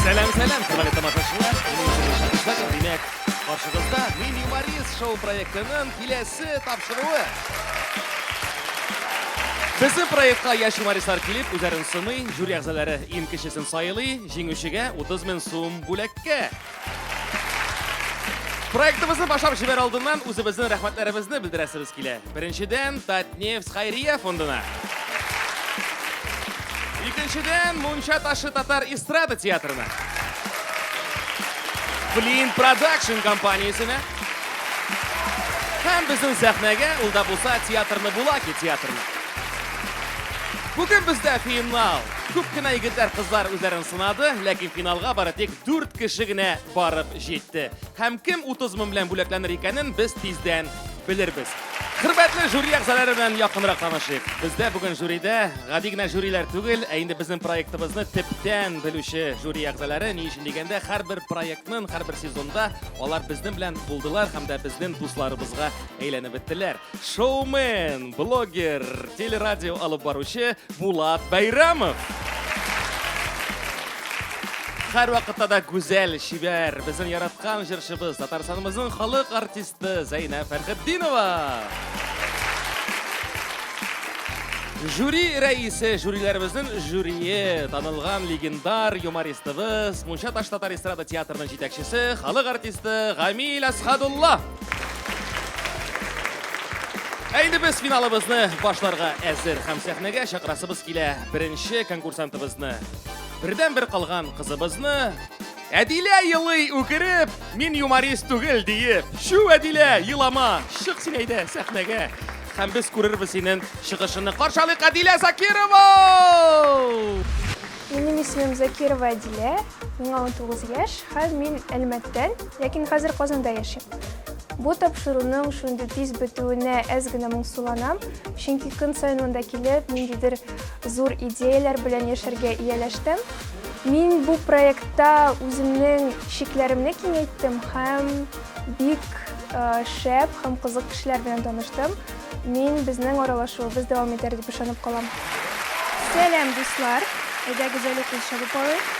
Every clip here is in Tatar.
Сәлам, сәлам, хөрмәтле тамашачылар. Минем исемем Шамил Шакир. Димәк, каршыгызда Мин юморист шоу проектының киләсе тапшыруы. Безнең проектка яшь юмористлар килеп, үзләрен сыный, жюри әгъзалары иң кечесен сайлый, җиңүчегә 30 мең сум бүләккә. Проектыбызны башлап җибәр алдыннан үзебезнең рәхмәтләребезне белдерәсебез килә. Беренчедән, Татнефть Хайрия фондына. Икенчедән, Мунча ташы татар эстрада театрына. Flint Production компаниясенә. Һәм безнең сәхнәгә ул да булса театрны Булаки театрына. Бүген бездә финал. Күп кенә егетләр, кызлар үзләрен сынады, ләкин финалга бары тик Дүрт кеше генә барып җитте. Һәм кем 30 мең белән бүләкләнер икәнен без тиздән белербез. Хөрмәтле жюри әгъзалары белән якынрак танышыйк. Бездә бүген жюридә гади генә жюрилар түгел, ә инде безнең проектыбызны төптән белүче жюри әгъзалары. Ни өчен дигәндә, һәрбер проектның һәрбер сезонда алар безнең белән булдылар һәм дә безнең дусларыбызга әйләнеп беттеләр. Шоумен, блогер, телерадио алып баручы Булат Бәйрәмов. Хәр вакытта да гүзәл, чибәр, безнең яраткан җырчыбыз, Татарстанымызның халык артисты Зәйнә Фәрхетдинова. Жюри рәисе, жюриләребезнең жюрие, танылган легендар юмористыбыз, Мунча таш татар эстрада театрының җитәкчесе, халык артисты Гамил Асхадуллов. Әйде без финалыбызны башларга әзер һәм сәхнәгә чакырасыбыз килә беренче конкурсантыбызны. Бердән бер калган кызыбызны Әдилә елый үкереп, мин юморист түгел диеп. Шу Әдилә, елама, чык син әйдә сәхнәгә. Һәм без күрербез синең чыгышыңны. Каршалык Әдилә Закирова! Минем исемем Закирова Әдилә, миңа унтугыз яшь һәм мин Әлмәттән, ләкин хәзер Казанда яшим. Бу тапшыруның шундый тиз бетүенә әз генә моңсуланам, чөнки көн саен монда килеп, ниндидер зур идеяләр белән яшәргә ияләштем. Мин бу проектта үземнең чикләремне киңәйттем һәм бик шәп һәм кызык кешеләр белән таныштым. Мин безнең аралашуыбыз дәвам итәр дип ышанып калам. Сәлам, дуслар! Әйдәгез әле кул чабып алыйк.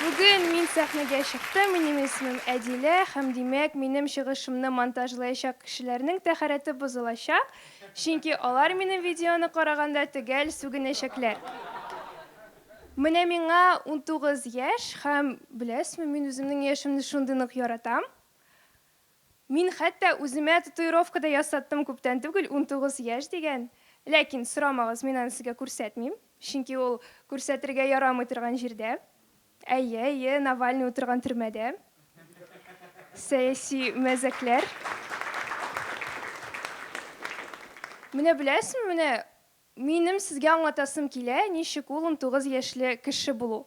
Бүген мин сәхнәгә чыктым, минем исемем Әдилә, һәм димәк, минем чыгышымны монтажлаячак кешеләрнең тәһарәте бозылачак, чөнки алар минем видеоны караганда төгәл сүгенәчәкләр. Менә миңа унтугыз яшь, һәм, беләсезме, мин үземнең яшемне шундый нык яратам. Мин хәтта үземә татуировка да ясаттым күптән түгел, унтугыз яшь дигән. Ләкин, сорамагыз, мин аны сезгә күрсәтмим, чөнки ул күрсәтергә ярамый торган җирдә. Әйе, әйе, Навальный утырган төрмәдә. Сәяси мәзәкләр. Менә беләсеңме, менә Минем сезгә аңлатасым килә, ничек ул унтугыз яшьле кеше булу.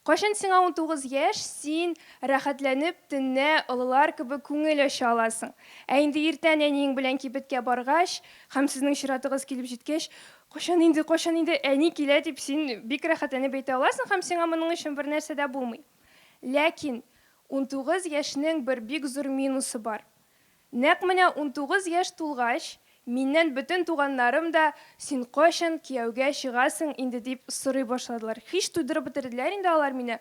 Кайчан сиңа унтугыз яшь, син, рәхәтләнеп, төнлә, олылар кебек күңел ача аласың. Ә инде иртән әниең белән кибеткә баргач, һәм сезнең чиратыгыз килеп җиткәч, Кайчан инде, кайчан инде әни килә, дип, син бик рәхәтләнеп әйтә аласың һәм сиңа моның өчен бернәрсә дә булмый. Ләкин унтугыз яшьнең бер бик зур минусы бар. Нәкъ менә унтугыз яшь тулгач, миннән бөтен туганнарым да, Син кайчан кияүгә чыгасың инде? дип сорый башладылар. Һич туйдырып бетерделәр инде алар мине.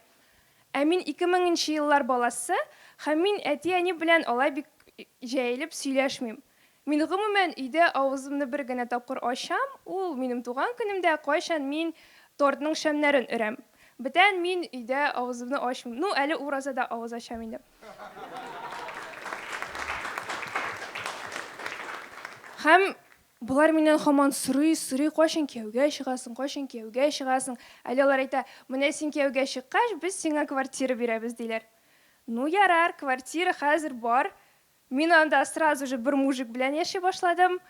Ә мин ике меңенче еллар баласы һәм мин әти-әни белән алай бик җәелеп сөйләшмим. Мин, гомумән, өйдә авызымны бер генә тапкыр ачам, ул, минем туган көнемдә, кайчан мин тортның шәмнәрен өрәм. Бүтән мин өйдә авызымны ачмыйм. Ну, әле уразада авыз ачам инде. Һәм болар миннән хаман сорый, сорый, кайчан кияүгә чыгасың, кайчан кияүгә чыгасың? Әле алар әйтә, менә син кияүгә чыккач, без сиңа квартира бирәбез, диләр. Ну, ярар, квартира хәзер бар. Мин анда сразу же бер мужик белән яши башладым.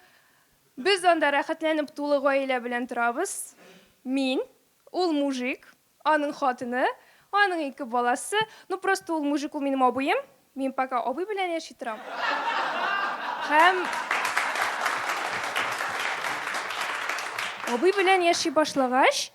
Без анда рәхәтләнеп тулы гаилә белән торабыз. Мин, ул мужик, Аның хатыны, аның ике баласы, ну просто ул мужик ул минем абыем, мин пока абый белән яши торам. Һәм абый белән яши башлагач,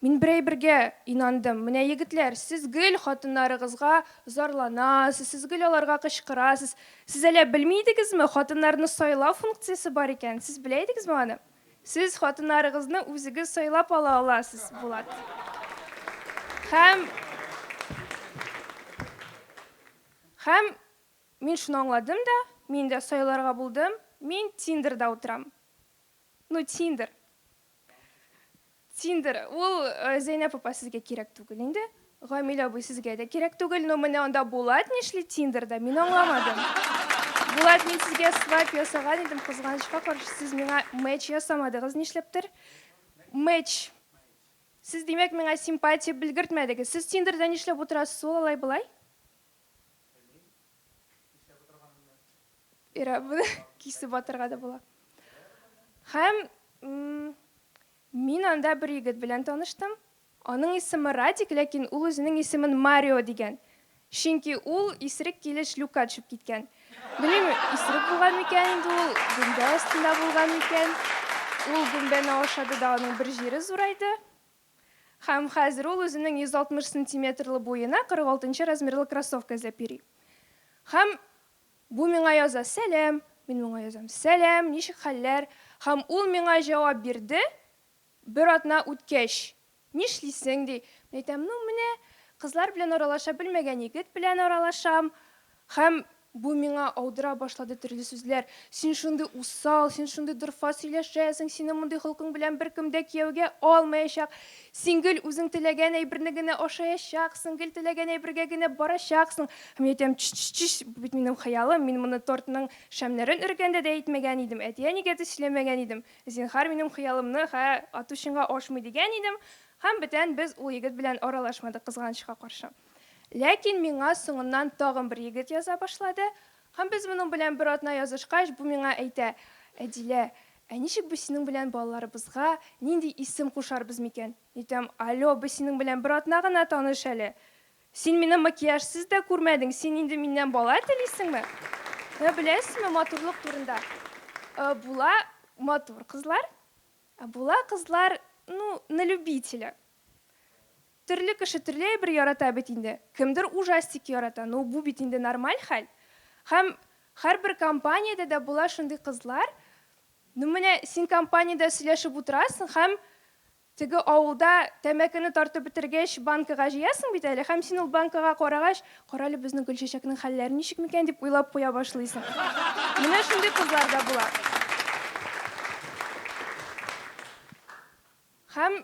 мин бер әйбергә инандым. Менә егетләр, сез гел хатыннарыгызга зарланасыз, сез гел аларга кычкырасыз. Сез әллә белми идегезме, хатыннарны сайлау функциясе бар икән? Сез белә идегезме аны? Сез хатыннарыгызны үзегез сайлап ала аласыз, Булат. Һәм Һәм мин шуны аңладым да, мин дә сайларга булдым, мин Тиндерда утырам. Ну, Тиндер. Тиндер, ул Зәйнәп апа сезгә кирәк түгел инде, Гамил абый сезгә дә кирәк түгел, но менә анда Булат нишли Тиндерда, мин аңламадым. Булат, мин сезгә свайп ясаган идем, кызганычка каршы, сез миңа мэч ясамадыгыз, нишләптер. Мэч. Сез, димәк, миңа симпатия белгертмәдегез. Сез Тиндерда нишләп утырасыз ул алай-болай? Ира, буны кисеп атырга да була. Һәм мин анда бер егет белән таныштым. Аның исеме Радик, ләкин ул үзенең исемен Марио дигән. Чөнки ул исерек килеш люкка төшеп киткән. Белмим, исерек булган микән инде ул, гөмбә астында булган микән. Ул гөмбәне ашады да аның бер җире зурайды. Һәм хәзер ул үзенең 160 сантиметрлы буена 46 нчы размерлы кроссовка эзләп йөри. Һәм бу миңа яза, Сәлам! Мин моңа язам, Сәлам, ничек хәлләр? Һәм ул миңа җавап бирде, бер атна үткәч. Нишлисең? ди. Мин әйтәм, Ну, менә, кызлар белән аралаша белмәгән егет белән аралашам. Һәм бу миңа аудыра башлады төрле сүзләр, Син шундый усал, син шундый дорфа сөйләшәсең, синең мондый холкың белән беркем дә кияүгә алмаячак, син гел үзең теләгән әйберне генә ашаячаксың, гел теләгән әйбергә генә барачаксың. Һәм мин әйтәм, Чч-чч-чч, бу бит минем хыялым, мин моны тортның шәмнәрен өргәндә дә әйтмәгән идем, әти-әнигә дә сөйләмәгән идем, зинһар, минем хыялымны хә ату чынга ашмый дигән идем. Һәм бетән без ул егет белән аралашмадык, кызганычка каршы. Ләкин миңа соңыннан тагын бер егет яза башлады, һәм без моның белән бер атна язышкач, бу миңа әйтә, Әдилә, ә ничек без синең белән балаларыбызга нинди исем кушарбыз микән? Әйтәм, Алё, без синең белән бер атна гына таныш әле. Син мине макияжсыз да күрмәдең, син инде миннән бала телисеңме? Ә беләсезме, матурлык турында була матур кызлар, ә була кызлар, ну, на любителя. Төрле кеше төрле әйбер ярата бит инде. Кемдер ужастик ярата, ну, бу бит инде нормаль хәл. Һәм һәрбер компаниядә дә була шундый кызлар. Ну, менә син компаниядә сөйләшеп утырасың һәм теге авылда тәмәкене тартып бетергәч, банкага җыясың бит әле һәм син ул банкага карагач, карале, безнең Гөлчәчәкнең хәлләре ничек микән, дип уйлап куя башлыйсың. Менә шундый кызлар да була. Һәм.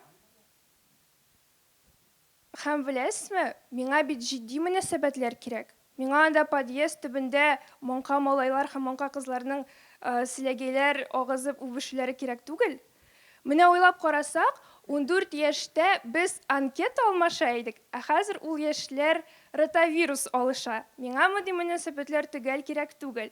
Һәм беләсезме, миңа бит җитди мөнәсәбәтләр кирәк. Миңа анда подъезд төбендә маңка малайлар һәм маңка кызларның селәгәйләр агызып үбешүләре кирәк түгел. Менә уйлап карасак, ундүрт яшьтә без анкета алмаша идек, ә хәзер ул яшьләр ротавирус алыша. Миңа мондый мөнәсәбәтләр төгәл кирәк түгел.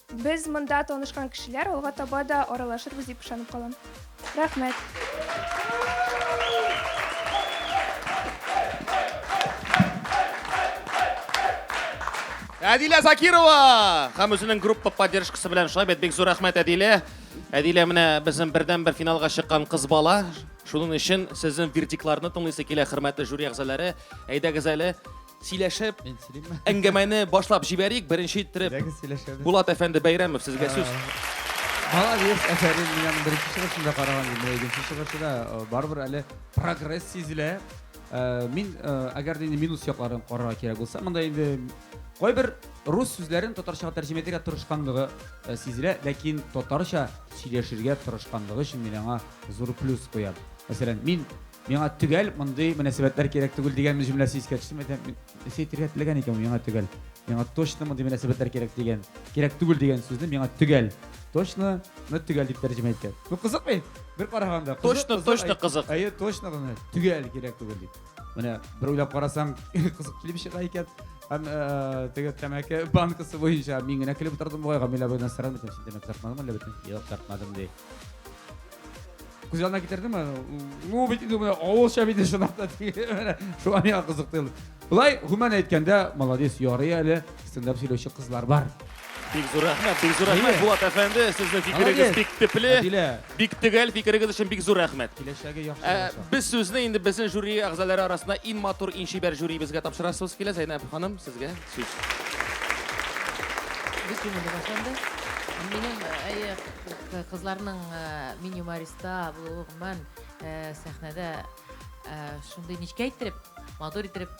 Без монда танышкан кешеләр алга таба да аралашырбыз дип ышанып калам. Рәхмәт. Әдилә Закирова һәм үзенең группа поддержкасы белән шулай бит бик зур рәхмәт Әдилә. Әдилә менә безнең бердән бер финалга чыккан кыз бала. Шуның өчен сезнең вердикларны тыңлыйсы килә, хөрмәтле жюри әгъзалары. Әйдәгез әле, Сөйләшеп, Мин сөйлим. әңгәмәне башлап җибәрик. Беренче иттереп Дәгез сөйләшәбез. Булат әфәнде Бәйрәмов сезгә сүз. Молодец, әфәрин, мин аның беренче чыгышында караган идем, менә икенче чыгышы да э, барыбер әле прогресс сизелә. Э, Мин, э, әгәр дә инде минус якларын карарга кирәк булса, монда инде кайбер рус сүзләрен татарчага тәрҗемә итәргә тырышканлыгы э, сизелә, ләкин татарча сөйләшергә тырышканлыгы өчен мин аңа зур плюс куям. Мәсәлән, мин Миңа төгәл мондый мөнәсәбәтләр кирәк түгел дигән җөмләсе искә төште. Мәдәм нәрсә әйтергә теләгән икән миңа төгәл. Миңа точно мондый мөнәсәбәтләр кирәк дигән. Кирәк түгел дигән сүзне миңа төгәл. Точно ны төгәл дип тәрҗемә иткән. Ну кызык бит. Бер караганда. Точно, точно кызык. Әйе, точно гына. Төгәл кирәк түгел дип. Менә бер уйлап карасаң, кызык килеп чыга икән. Һәм э, теге тәмәке банкасы буенча мин генә килеп утырдым бугай, Гамилә буена сорам итәм, син тәмәке тартмадыңмы әллә бөтен? Юк, тартмадым ди. Күз янына китердеме? Ну, бит инде менә авылча бит чынлап та менә шуңа миңа кызыкты. Болай гомумән әйткәндә, молодец, ярый әле стендап сөйләүче кызлар бар. Бик зур рәхмәт, бик зур рәхмәт, Булат әфәнде, сезнең фикерегез бик төпле, бик төгәл фикерегез өчен бик зур рәхмәт. Киләчәге яхшы э, булачак. Без сүзне инде безнең жюри әгъзалары арасында иң матур, иң чибәр жюрибезгә тапшырасыз килә. Зәйнәб ханым, сезгә сүз. Бөтенлеге башланды. Минем, әйе, Кызларның мини мариста булуы гомумән сәхнәдә шундый нечкә иттереп, матур иттереп,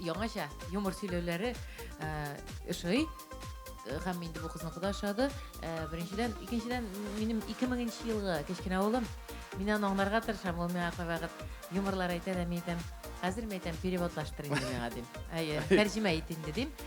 яңача юмор сөйләүләре ошый. Һәм инде бу кызныкы да ошады. Беренчедән, икенчедән, минем 2000 нче елгы кечкенә улым. Мин аны аңларга тырышам, ул миңа кайвакыт юморлар әйтә дә, мин әйтәм, хәзер мин әйтәм, переводлаштыр инде миңа, дим. Әйе, тәрҗемә ит инде, дим.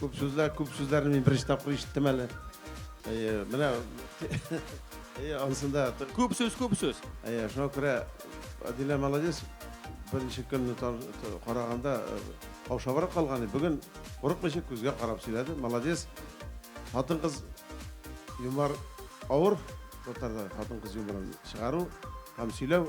Күп сүзләр, күп сүзләрне мин беренче тапкыр ишеттем әле. Әйе, менә әйе, ансында Күп сүз, күп сүз. Әйе, шуңа күрә Адилә молодец. Беренче көнне тан- т- караганда э, каушабрак калган иде. Бүген курыкмыйча күзгә карап сөйләде. Молодец. Хатын-кыз юмор авыр татарда хатын-кыз юморын чыгару һәм сөйләү.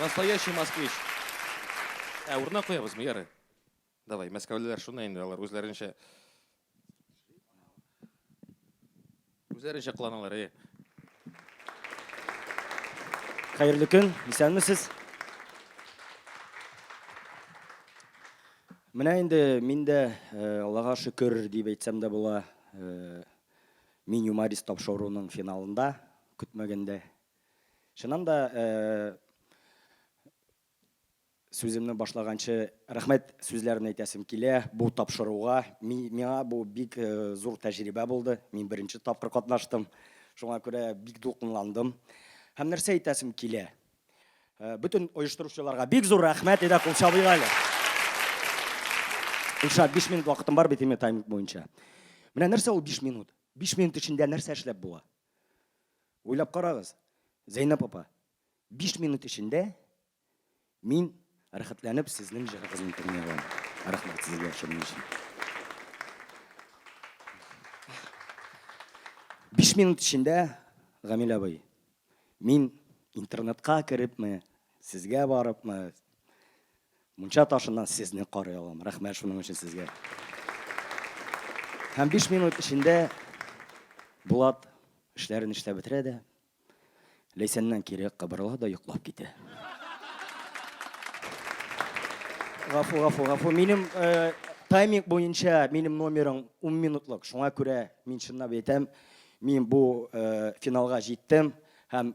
Настоящий москвич. Ә урынына куябызмы? Ярый. Давай, мәскәүлеләр шуны инде, алар үзләренчә үзләренчә кыланалар, әйе. Хәерле көн, исәнмесез. Менә инде мин дә, Аллага шөкер, дип әйтсәм дә була, Мин юморист тапшыруының финалында, көтмәгәндә Чыннан да, сүземне башлаганчы рәхмәт сүзләрен әйтәсем килә бу тапшыруга. Миңа бу бик зур тәҗрибә булды. Мин беренче тапкыр катнаштым. Шуңа күрә бик дулкынландым. Һәм нәрсә әйтәсем килә? Бөтен оештыручыларга бик зур рәхмәт, әйдә кул чабыйк әле. Илшат, 5 минут вакытым бар бит инде тайминг буенча. Менә нәрсә ул 5 минут? 5 минут эчендә нәрсә эшләп була? Уйлап карагыз, Зәйнәп апа, биш минут эчендә мин рәхәтләнеп сезнең җырыгызны тыңлый алам. Рәхмәт сезгә шуның өчен. Биш минут эчендә, Гамил абый, мин интернетка керепме, сезгә барыпмы, Мунча ташыннан сезне карый алам. Рәхмәт шуның өчен сезгә. Һәм биш минут эчендә Булат эшләрен эшләп бетерә дә, Ләйсәннән кире кыбырла да йоклап китә. Гафу, гафу, гафу. Минем э, тайминг буенча минем номерым 10 минутлык. Шуңа күрә мин чынлап әйтәм, мин бу э, финалга җиттем һәм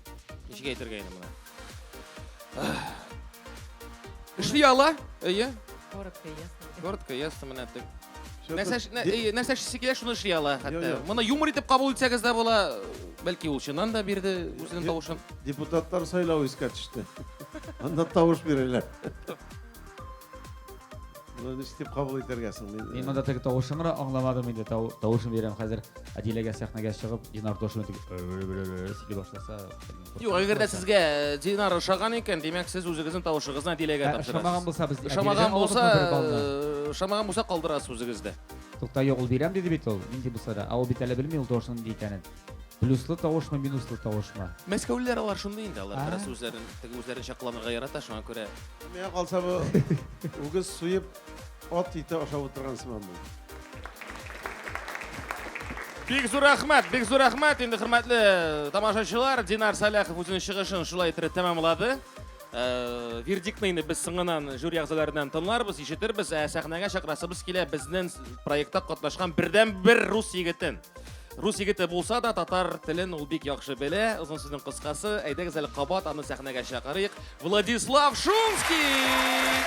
Ничек әйтергә инде моны? Эшли ала? Әйе. Коротко, ясно. Коротко, ясно, менә тек. Нәрсә эш- нә- әйе, нәрсә эшлисе килә, шуны эшли ала хәтта. Йо, йо. Моны юмор итеп кабул итсәгез дә була. Бәлки ул чыннан да бирде үзенең Йо. тавышын. Депутатлар сайлау искә төште. Анда тавыш бирәләр. Моны ничек дип кабул итәргә соң? Мин монда теге тавышымны аңламадым инде. Тавышым бирәм хәзер. Әдиләгә сәхнәгә чыгып, Динар тавышын дип сөйли башласа. Юк, әгәр дә сезгә э, Динар ошаган икән, димәк, сез үзегезнең тавышыгызны Әдиләгә тапшырасыз. Ошамаган булса без Ошамаган булса, э, ошамаган булса калдырасыз үзегездә. Тукта, юк, ул бирәм диде бит ул. Нинди булса да. Ә ул бит әле белми ул тавышның нинди икәнен. Плюслы тавышмы, минуслы тавышмы? Мәскәүлеләр алар шундый инде, алар бераз үзләрен, теге үзләренчә кыланырга ярата, шуңа күрә. Миңа калса бу үгез суеп ат ите ашап утырган сыман бу. Бик зур рәхмәт, бик зур рәхмәт. Инде хөрмәтле тамашачылар, Динар Саляхов үзенең чыгышын шулай иттереп тәмамлады. Э, вердиктны инде без соңынан жюри әгъзаларыннан тыңларбыз, ишетербез, ә сәхнәгә чакрасыбыз килә безнең проектта катнашкан бердән бер рус егетен. Рус егете булса да, татар телен ул бик яхшы белә. Озын сүзнең кыскасы, әйдәгез әле кабат аны сәхнәгә чакырыйк. Владислав Шумский!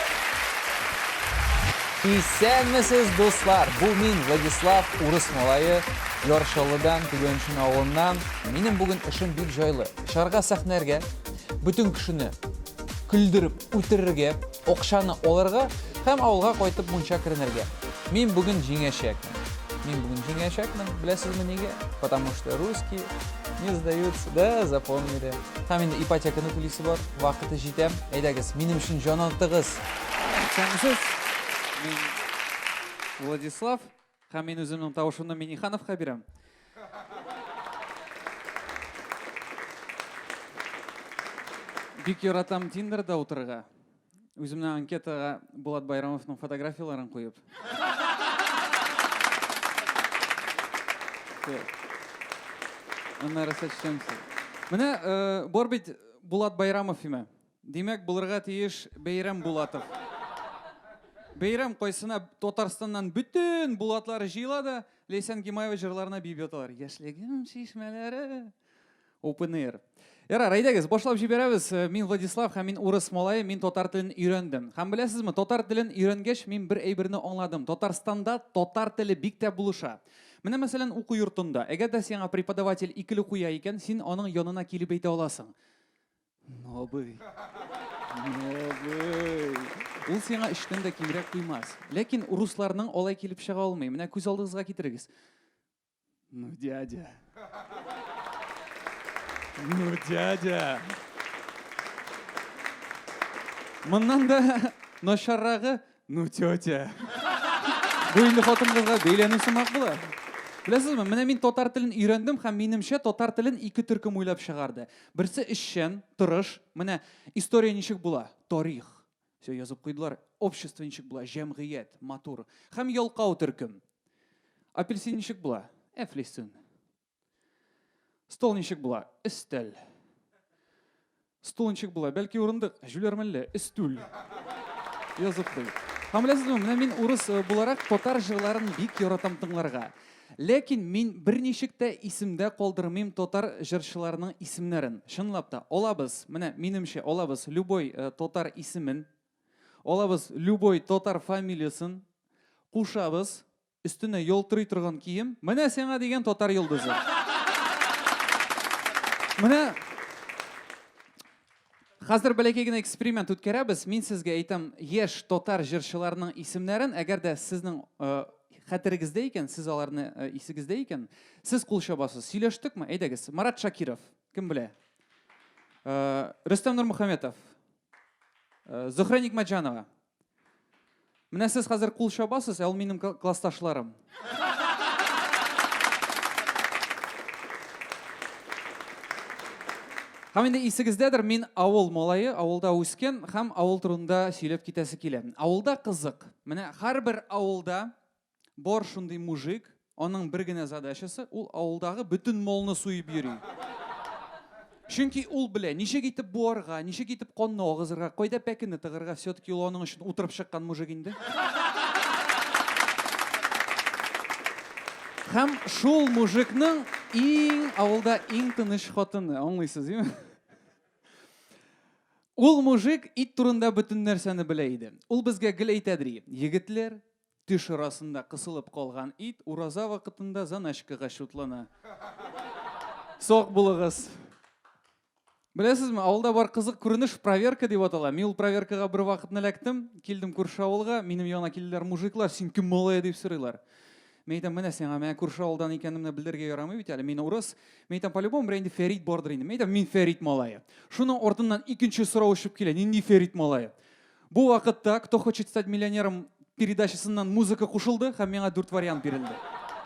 Исәнмесез, дуслар! Бу мин Владислав, урыс малае, Яршалыдан, Түгәншин авылыннан. Минем бүген эшем бик җайлы. Шарга сәхнәргә, бөтен кешене көлдереп үтерергә, Акчаны алырга һәм авылга кайтып мунча керенергә. Мин бүген җиңәчәкмен. Мин бүген җиңәчәкмен. Беләсезме нигә? Потому что русские не сдаются. Да, запомнили. Һәм инде ипотеканы түлисе бар. Вакыты җитә. Әйдәгез, минем өчен җан атыгыз! Исәнмесез! Мин Владислав. Һәм мин үземнең тавышымны Минихановка бирәм. Бик яратам Тиндерда утырырга. Үземнең анкетага Булат Байрамовның фотографияләрен куеп. Аннары сәчтән. Менә э, бар бит Булат Байрамов име? Димәк, булырга тиеш Бәйрәм Булатов. Бәйрәм кайсына Татарстаннан бөтен Булатлар җыела да, Ләйсән Гимаева җырларына биеп яталар. Яшьлегем чишмәләре. Open air. Ярар, әйдәгез, башлап җибәрәбез. Э, мин Владислав һәм мин урыс малае, мин татар телен өйрәндем. Һәм беләсезме, татар телен өйрәнгәч, мин бер әйберне аңладым. Татарстанда татар теле бик тә булыша. Менә мәсәлән, уку йортында, әгәр дә сиңа преподаватель икеле куя икән, син аның янына килеп әйтә аласың. Нобый. Нобый. Ул сиңа эштән дә кимрәк куймас. Ләкин русларның алай килеп чыга алмый. Менә күз алдыгызга китерегез. Ну, дядя. Ну, дядя. Моннан да начаррагы Ну, тетя. Бу инде хатын-кызга бәйләнү сымак була. Беләсезме, менә мин татар телен өйрәндем һәм минемчә татар телен ике төркем уйлап чыгарды. Берсе эшчән, тырыш. Менә история ничек була? Тарих. Все язып куйдылар. Общество ничек була? Җәмгыять, матур. Һәм ялкау төркем. Апельсин ничек була? Әфлисун. Стол ничек була? Өстәл. Стул ничек була? Бәлки урындык, җүләрмәлле, өстүл. Язып куй. Һәм беләсезме, менә мин урыс э, буларак татар җырларын бик яратам тыңларга. Ләкин мин берничек тә исемдә калдырмыйм татар җырчыларының исемнәрен. Чынлап та, алабыз, менә минемчә, алабыз любой э, татар исемен, алабыз любой татар фамилиясын, кушабыз, Өстенә ялтырый торган кием. Менә сиңа дигән татар йолдызы. Менә Хәзер бәләкәй генә эксперимент үткәрәбез. Мин сезгә әйтәм яшь татар җырчыларының исемнәрен. Әгәр дә сезнең э, хәтерегездә икән, сез аларны э, исегездә икән, сез кул чабасыз. Сөйләштекме? Әйдәгез. Марат Шакиров. Кем белә? Э, Рөстәм Нурмөхәммәтов. Э, Зөхрә Нигмәтҗанова. Менә сез хәзер кул чабасыз, ә ул минем классташларым. Һәм инде исегездәдер, мин авыл малае, авылда үскен һәм авыл турында сөйләп китәсе килә. Авылда кызык. Менә һәрбер авылда Бар шундый мужик, аның бер генә задачасы, ул авылдагы бөтен молны суеп йөри. Чөнки ул белә, ничек итеп буарга, ничек итеп конны агызырга, кайда пәкене тыгырга, все-таки ул аның өчен утырып чыккан мужик инде. Хәм шул мужикның иң авылда иң тыныч хатыны, аңлыйсыз, димме? Ул мужик ит турында бөтен нәрсәне белә иде. Ул безгә гел әйтәдри, егетләр, Төш арасында кысылып калган ит ураза вакытында заначкага чутлана. Сак булыгыз. Беләсезме, авылда бар кызык күренеш проверка дип атала. Мин ул проверкага бер вакыт эләктем, килдем күрше авылга, минем яна килделәр мужиклар, син кем малая дип сорыйлар. Мин әйтәм, менә сиңа, менә күрше авылдан икәнемне белдергә ярамый бит әле, мин урыс. Мин әйтәм, по-любому бер инде Фәрит бардыр инде. Мин әйтәм, мин Фәрит малае. Шуның артыннан икенче сорау очып килә, нинди Фәрит малае? Бу вакытта Кто хочет стать миллионером передачасыннан музыка кушылды һәм миңа дүрт вариант бирелде.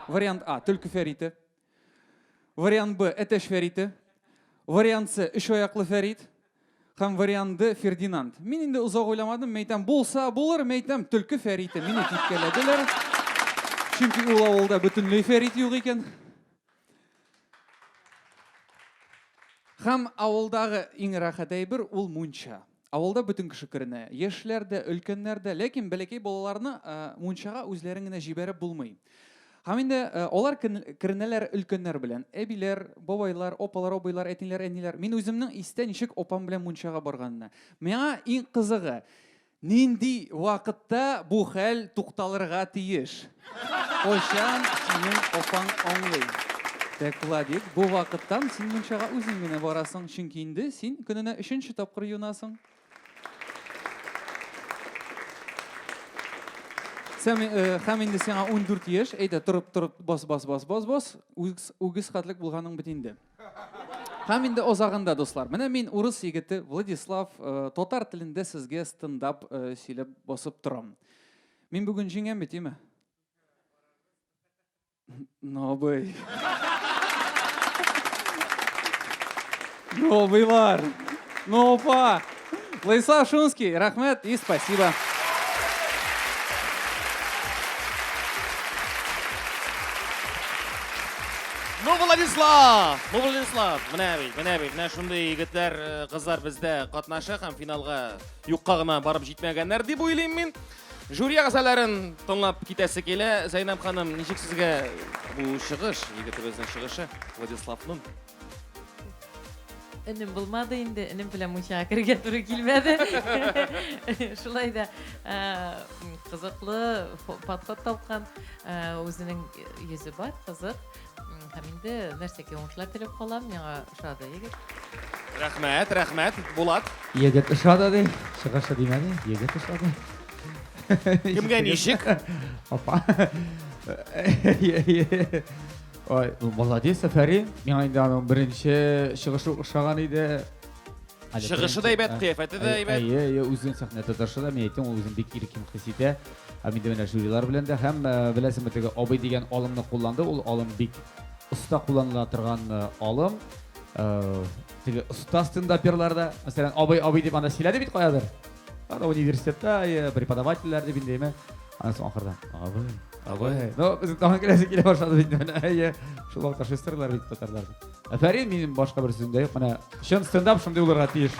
Вариант А, төлке фәрите. Вариант Б, әтәч фәрите. Вариант С, өч аяклы фәрит. Һәм вариант Д, Фердинанд. Мин инде озак уйламадым, мәйтәм, булса булыр, мәйтәм, төлке фәрите. Мине типкәләделәр. Чөнки ул авылда бөтенләй фәрит юк икән. Хәм авылдагы иң рәхәт әйбер ул мунча. Авылда бүтін кеше керенә, яшьләр дә, өлкәннәр дә, ләкин бәләкәй балаларны э, мунчага үзләрен генә җибәреп булмый. Һәм инде э, алар керенәләр өлкәннәр белән. Әбиләр, бабайлар, опалар, абыйлар, әтиләр, әниләр. Мин үземнең истә ничек опам белән мунчага барганына. Миңа иң кызыгы, Нинди вакытта бу хәл тукталырга тиеш? Кайчан синең апаң аңлый? Тәк, Владик, бу вакыттан син мунчага үзең генә барасың, чөнки инде син көненә өченче тапкыр юынасың. Сәм, э, һәм инде сиңа ундүрт яшь, әйдә, торып, торып, бас, бас, бас, бас, бас, үгез, үгез хәтлек булганың бит инде. Һәм инде озагында, дуслар, менә мин урыс егете Владислав, э, татар телендә сезгә стендап э, сөйләп басып торам. Мин бүген җиңәм бит, име? Новый. Новыйлар. Нова. Владислав Шунский, рахмет и спасибо. Ну, Владислав! Ну, Владислав! Менә бит, менә бит, менә шундый егетләр, э, кызлар бездә катнаша һәм финалга юкка гына барып җитмәгәннәр дип уйлыйм мин. Жюри әгъзаларын тыңлап китәсе килә. Зәйнәб ханым, ничек сезгә бу чыгыш, егетебезнең чыгышы, Владиславның? Энем булмады инде, энем белән мунчага керергә туры килмәде. Шулай да кызыклы подход тапкан, үзенең йөзе бар, кызык. Һәм инде нәрсәгә уңышлар теләп калам, миңа ошады егет. Рәхмәт, рәхмәт, Булат. Егет ошады ди, чыгышы димәде, егет ошады. Кемгә ничек? Апа. Ой, молодец, әфәрин. Миңа инде аның беренче чыгышы ошаган иде. Әле Чыгышы да әйбәт, кыяфәте дә әйбәт. Әйе, әйе, үзен сәхнә тотышы да, мин әйтәм, ул үзен бик иркен хис итә. Ә инде менә жюрилар белән дә һәм э, беләсеңме теге абый дигән алымны кулланды, ул алым бик оста кулланыла торган э, алым. Э, теге оста стендаперлар да, мәсәлән, абый, абый дип анда сөйләде бит каядыр. Аны университетта э, преподавательләр дип инде әйме. Аны соң ахырда. Абый. Абый. Ну, без тагын киләсе килә башлады бит менә. Әйе. Шул вакытта шестерлар бит татарлар. Афәрин, минем башка бер сүзем дә юк. Менә чын стендап шундый булырга тиеш.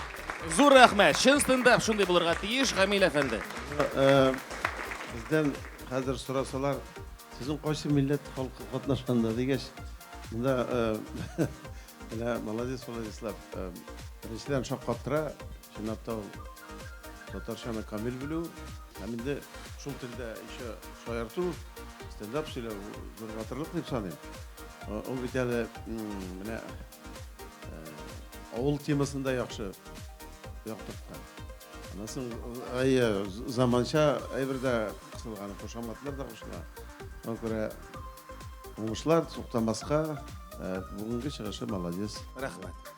Зур рәхмәт. Чын стендап шундый булырга тиеш, Гамил әфәнде. Э, Бездән хәзер сорасалар, сезнең кайсы милләт халкы катнашканда дигәч, монда э, менә молодец, Владислав. э, Беренчедән шаккаттыра, Чынлап та ул татарчаны камил белү һәм инде шул телдә еще шаярту, стендап сөйләү зур батырлык дип саныйм. Ул бит әле менә авыл темасында яхшы яктырткан. Аннан соң әйе, заманча әйбер дә кысылган, кушаматлар да кушыла. Шуңа күрә уңышлар, туктамаска. Бүгенге чыгышы молодец. Рәхмәт.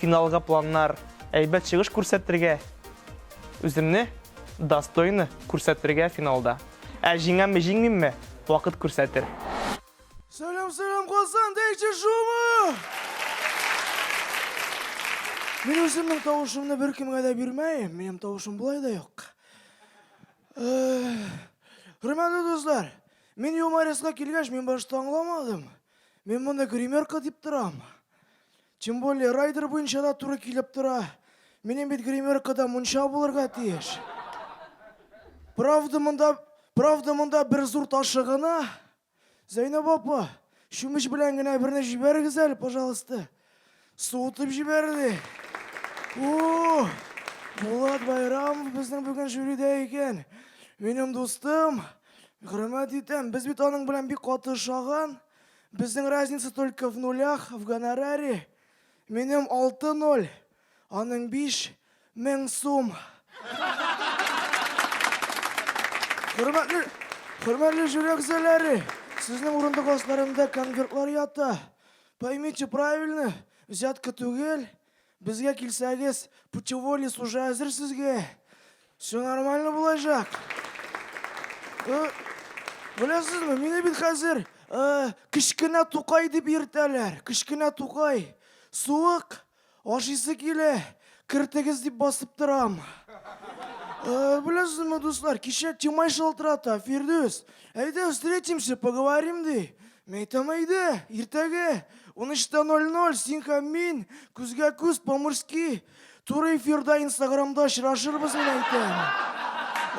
Финалга планнар, әйбәт чыгыш күрсәтергә, үземне достойно күрсәтергә финалда. Ә җиңәмме, җиңмимме, вакыт күрсәтер. Сәлам сәлам Казан дәйче шумы! Мин үземнең тавышымны беркемгә дә бирмәем, минем тавышым болай да юк. Хөрмәтле дуслар, мин юмористка килгәч, мин башта аңламадым. Мин моны гримерка дип торам. Тем более, райдер буенча да туры килеп тора. Минем бит гримеркада мунча булырга тиеш. Правда монда, правда монда бер зур ташы гына. Зәйнәб апа, чүмеч белән генә берне җибәрегез әле, пожалуйста. Суытып җибәрде. О, Булат Байрам безнең бүген жюрида икән. Минем дустым, хөрмәт итәм. Без бит аның белән бик каты ошаган. Безнең разница только в нулях, в гонораре. Минем алты ноль, аның биш мең сум. Хөрмәтле, хөрмәтле жюри әгъзалары, сезнең урындык асларында конвертлар ята. Поймите правильно, взятка түгел, Безгә килсәгез, путеводец уже әзер сезгә. Все нормально булачак. Э, Беләсезме, мине бит хәзер э, кечкенә тукай дип йөртәләр. Кечкенә тукай. Суык, ашыйсы килә, кертегез дип басып торам. Э, Беләсезме, дуслар, кичә Тимай шалтырата, Фирдүс. Әйдә, встретимся, поговорим, ди. Мәйтәм әйдә, иртәгә 13.00 син һәм мин күзгә күз по-мужски туры эфирда инстаграмда очрашырбыз мин әйтәм.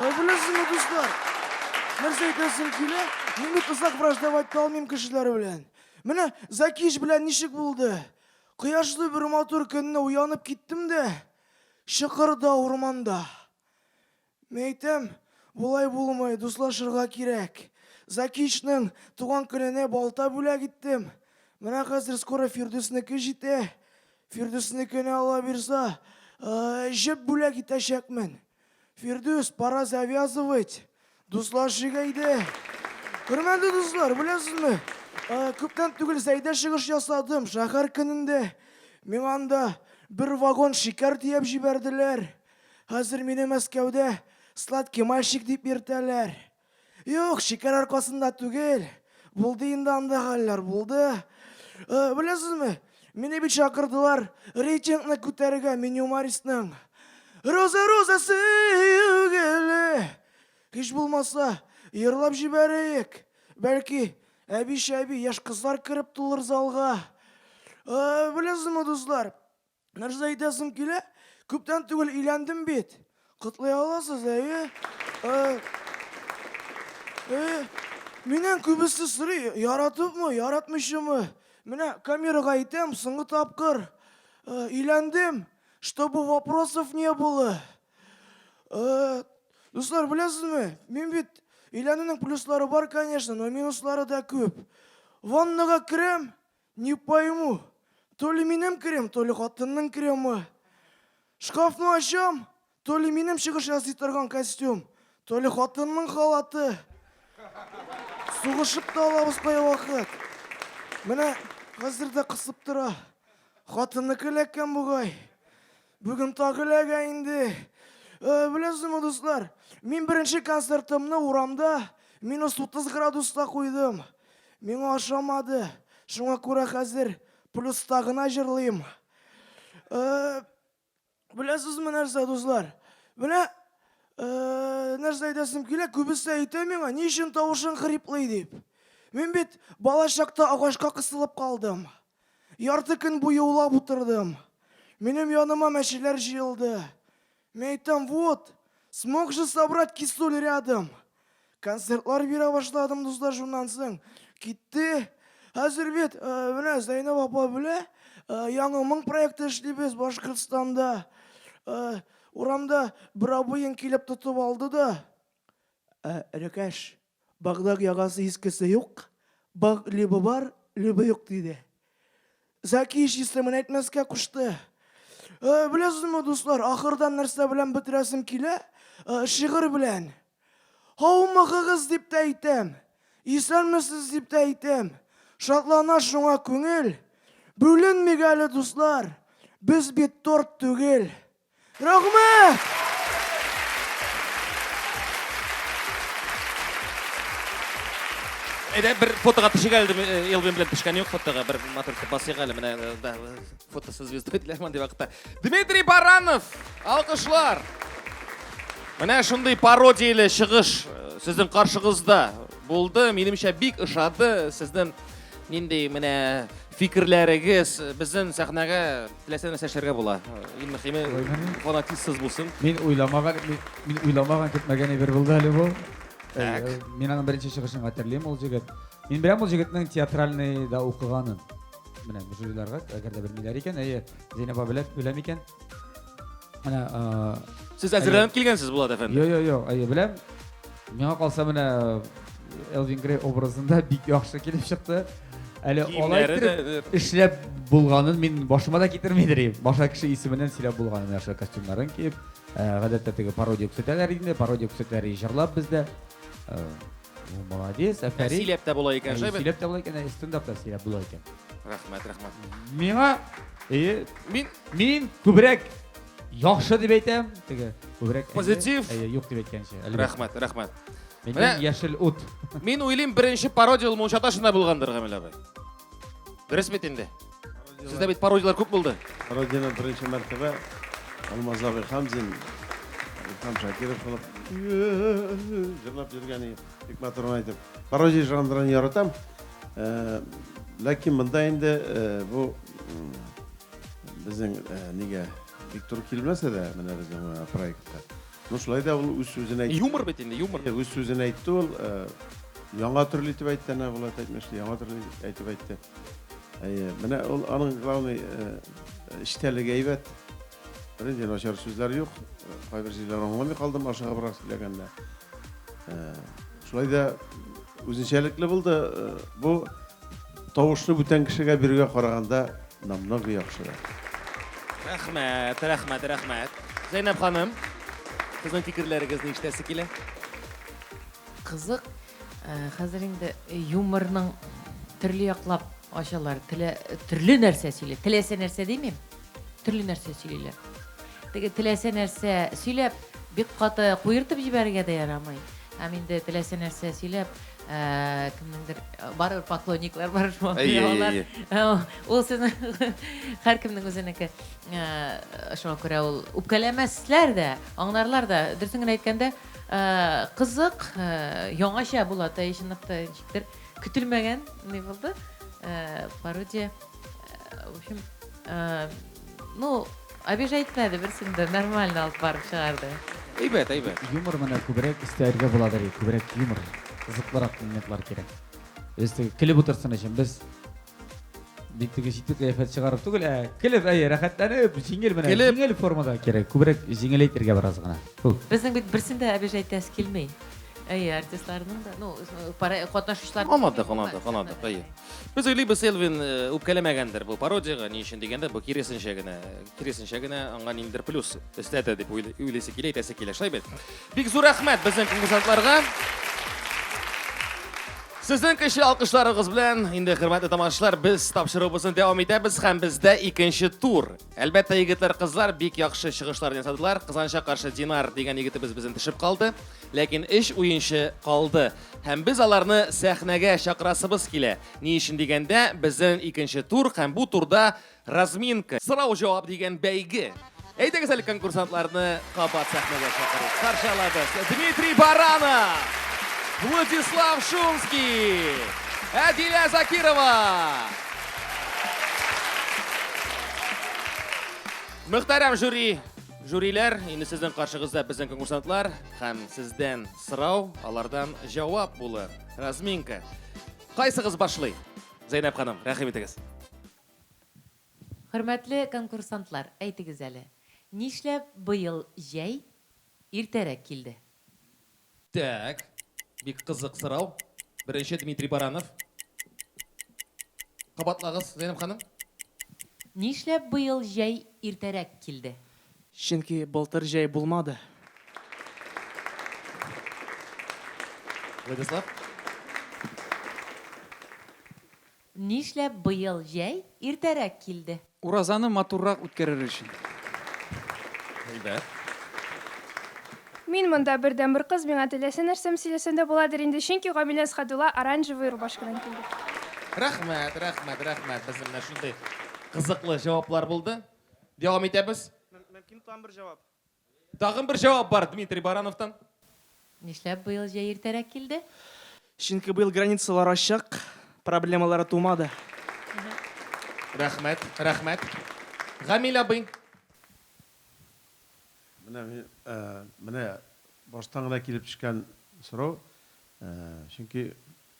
Ә беләсеңме, дуслар? Нәрсә әйтәсем килә? Мин бит озак враждовать та алмыйм кешеләр белән. Менә Закиш белән ничек булды? Кояшлы бер матур көнне уянып киттем дә, чокырда урманда. Мин әйтәм, болай булмый, дуслашырга кирәк. Закичның туган көненә балта бүләк иттем. Менә хәзер скоро Фирдүснеке җитә. Фирдүснекенә, Алла бирса, җеп бүләк итәчәкмен. Фирдүс, пора завязывать. Дуслашыйк әйдә. Хөрмәтле дуслар, беләсезме, күптән түгел Зәйдә чыгыш ясадым, шәһәр көнендә. Миңа анда бер вагон шикәр төяп җибәрделәр. Хәзер мине Мәскәүдә сладкий мальчик дип йөртәләр. Юк, шикәр аркасында түгел. Булды инде анда хәлләр, булды. Э, беләсезме, мине бит чакырдылар рейтингны күтәрергә Минюмаристның. Роза, роза, сөюгеле. Һич булмаса, йырлап җибәрәек. Бәлки, әби-шәби, яшь кызлар кереп тулыр залга. Э, беләсезме, дуслар, Нәрсә әйтәсең килә? Күптән түгел өйләндем бит. Котлый аласыз, әйе? Э, э, Миннән күбесе сорый, яратыпмы, яратмыйчымы? Менә камерага әйтәм, соңгы тапкыр э, өйләндем, чтобы вопросов не было. Э, Дуслар, беләсезме, мин бит өйләнүнең плюслары бар, конечно, но минуслары да күп. Ваннага керәм, Не пойму, то ли минем крем, то ли хатынның кремы. Шкафны ачам, то ли минем чыгыш ясый торган костюм, то ли хатынның халаты. Сугышып та алабыз кай вакыт. Менә хәзер дә кысып тора. Хатынныкы эләккән бугай. Бүген тагы ләгә инде. Э, Беләсезме, дуслар, мин беренче концертымны урамда минус 30 градуста куйдым. Миңа ошамады. Шуңа күрә хәзер плюста гына җырлыйм. Э, Беләсезме нәрсә, дуслар? Менә э, нәрсә әйтәсем килә, күбесе әйтә миңа, ни өчен тавышың хриплый дип. Мин бит бала чакта агачка кысылып калдым. Ярты көн буе улап утырдым. Минем яныма мәчеләр җыелды. Мин әйтәм, вот, смог же собрать кисуль рядом. Концертлар бирә башладым дуслар шуннан соң. Китте. Хәзер бит, э, менә Зәйнәб апа белә, э, яңа моң проекты эшлибез Башкортстанда. Э, урамда бер абыең килеп тотып алды да, Ә, Рөкәш, Багның яңасы искесе юк, Баг либо бар, либо юк, диде. Зәки чистымын әйтмәскә кушты. Э, Беләсезме, дуслар, ахырдан нәрсә белән бетерәсем килә? Э, Шигырь белән. Һаумыгыгыз дип тә әйтәм, исәнмесез дип тә әйтәм. Шатлана шуңа күңел. Бүленмик әле, дуслар, без бит торт түгел. Рәхмәт! Әйдә, бер фотога төшик әле, э, Элвин белән төшкән юк фотога, бер матур итеп басыйк әле, менә э, да, э, фотосы звезда диделәр мондый вакытта. Дмитрий Баранов, алкышлар! Менә шундый пародияле чыгыш сезнең каршыгызда булды, минемчә бик ошады, сезнең нинди менә фикерләрегез, безнең сәхнәгә Теләсә нәрсә эшләргә була. Иң мөхиме, фанатизсыз булсын. Мин уйламаган, мин уйламаган, көтмәгән әйбер булды әле бу. Так. Мин аның беренче чыгышын хәтерлим, ул җегет. Мин беләм ул җегетнең театральный да укыганын. Менә жюриларга, әгәр дә белмиләр икән, әйе, Зәйнәб белә, белә микән? Менә, Сез әзерләнеп килгәнсез, Булат әфәнде. Йо, йо, йо, әйе, беләм. Миңа калса менә Элвин Грей образында бик яхшы килеп чыкты. Әле алай итеп эшләп булганын мин башыма да китермидер идем. Башка кеше исеменнән сөйләп булганын яхшы костюмнарын киеп, гадәттә теге пародия күрсәтәләр инде, пародия күрсәтәләр җырлап бездә. Молодец, әфәрин. Сөйләп тә була икән, шәбе. Сөйләп тә була икән, стендап та сөйләп була икән. Рәхмәт, рәхмәт. Миңа, мин, мин күбрәк Яхшы дип әйтәм, теге күбрәк. әйе, Позитив. Әйе, юк дип әйткәнче. әлбәттә. Рәхмәт, рәхмәт. Мин Менә- яшел ут. Мин уйлыйм, беренче пародия ул Мунча ташында булгандыр, Гамил абый. Дөрес бит инде? Сездә бит пародияләр күп булды. Родина беренче мәртәбә Алмаз абый Хамзин, Илһам Шакиров булып җырлап йөргән иде. Бик матурын әйтеп. Пародия жанрын яратам. Э, Ләкин монда инде э, бу м, Безнең э, нигә бик туры килмәсә дә, менә безнең э, проектка. Ну шулай да ул үз сүзен әйтте. Юмор бит инде, юмор. Үз сүзен әйтте ул. Э, яңа төрле итеп әйтте, әнә Булат әйтмешли, яңа төрле әйтеп әйтте. Әйе, менә ул аның главный эчтәлеге әйбәт. Беренче начар сүзләр юк. Кайбер җирләр аңламый калдым ашыга бирак сөйләгәндә. Шулай да үзенчәлекле булды. Бу Тавышны бүтән кешегә бирүгә караганда намного яхшырак. Рәхмәт, рәхмәт, рәхмәт. Зәйнәб ханым, сезнең фикерләрегезне ишетәсе килә. Кызык, хәзер инде юморның төрле яклап ачалар, телә, төрле нәрсә сөйлә, теләсә нәрсә димим. Төрле нәрсә сөйлиләр. Теге теләсә нәрсә сөйләп, бик каты куертып җибәрергә дә ярамый. Һәм инде теләсә нәрсә сөйләп, ә, кемнеңдер барыбер поклонниклар бар шул. Әйе, әйе, әйе. Алар ул сезне һәркемнең үзенеке. Ә, шуңа күрә ул үпкәләмәсләр дә, аңнарлар да. Дөресен генә әйткәндә, ә, кызык, ә, яңача була, тәҗиныкта ничектер көтелмәгән ни булды. Ә, пародия. Э, в общем, э, ну, обижайтмәде, берсен дә нормально алып барып чыгарды. Әйбәт, әйбәт. Юмор менә күбрәк истәлгә буладыр, күбрәк юмор. Кызыклырак моментлар кирәк. Өстәге килеп утырсын өчен без бик теге җитди кыяфәт чыгарып түгел, ә килеп, әйе, рәхәтләнеп, җиңел менә, җиңел формада кирәк. Күбрәк җиңеләйтергә бераз гына. Безнең бит берсен дә обижайтәс килми. Әйе, артистларның да, ну, катнашучылар. Аладык, аладык, аладык, әйе. Без уйлыйбыз, Элвин э, үпкәләмәгәндер бу пародиягә, ни өчен дигәндә, бу киресенчә генә, киресенчә генә аңа ниндер плюс өстәтә дип уйлыйсы килә, әйтәсе килә, шулай бит. Бик зур рәхмәт безнең конкурсантларга. Сезнең кеше алкышларыгыз белән инде хөрмәтле тамашачылар, без тапшыруыбызны дәвам итәбез һәм бездә икенче тур. Әлбәттә, егетләр-кызлар бик яхшы чыгышлар ясадылар. Кызанча каршы Динар дигән егетебез безнең төшеп калды. Ләкин эш уенчы калды. Һәм без аларны сәхнәгә чакырасыбыз килә. Ни өчен дигәндә, безнең икенче тур һәм бу турда разминка, сорау-җавап дигән бәйге. Әйдәгез әле конкурсантларны кабат сәхнәгә чакырыйк. Каршы алабыз Дмитрий Баранов, Владислав Шумский, Әдилә Закирова. Мөхтәрәм жюри, жюриләр, инде сезнең каршыгызда безнең конкурсантлар һәм сездән сорау, алардан җавап булы. Разминка. Кайсыгыз башлый? Зәйнәп ханым, рәхим итегез. Хөрмәтле конкурсантлар, әйтегез әле, нишләп быел җәй иртәрәк килде? Так, бик кызык сорау. Беренче Дмитрий Баранов. Кабатлагыз, Зәйнәб ханым. Нишләп быел җәй иртәрәк килде? Чөнки былтыр җәй булмады. Владислав. Нишләп быел җәй иртәрәк килде? Уразаны матуррак үткәрер өчен. Әйбәт. Мин монда бердәнбер кыз, миңа теләсә нәрсәм сөйләсәм дә буладыр инде, чөнки Гамилә Әсхәдулла оранжевый рубашкадан килде. Рәхмәт, рәхмәт, рәхмәт, безнең менә шундый кызыклы җаваплар булды. Дәвам итәбез. Мөмкин тагын бер җавап? Тагын бер җавап бар Дмитрий Барановтан. Нишләп быел җәй иртәрәк килде? Чөнки быел границалар ачык, проблемалары тумады. Рәхмәт, рәхмәт. Гамил абый. Менә мин, менә баштан гына килеп төшкән сорау. Чөнки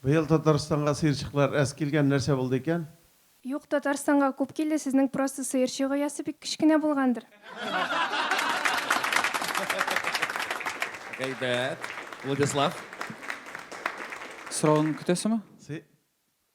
Быел Татарстанга сыерчыклар әз килгән, нәрсә булды икән? Юк, Татарстанга күп килде, сезнең просто сыерчык оясы бик кечкенә булгандыр. Гайбәт. Владислав. Соравын көтәсеме? Сы.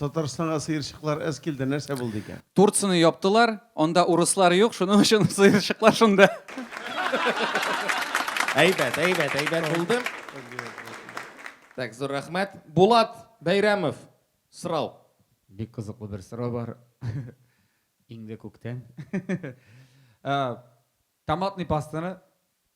Татарстанга сыерчыклар әз килде, нәрсә булды икән? Турцияне яптылар, анда урыслар юк, шуның өчен сыерчыклар шунда. Әйбәт, әйбәт, әйбәт булды. Так, зур рәхмәт. Булат Бәйрәмов, сорау. Бик кызыклы бер сорау бар. Иңде күктән. Томатный пастаны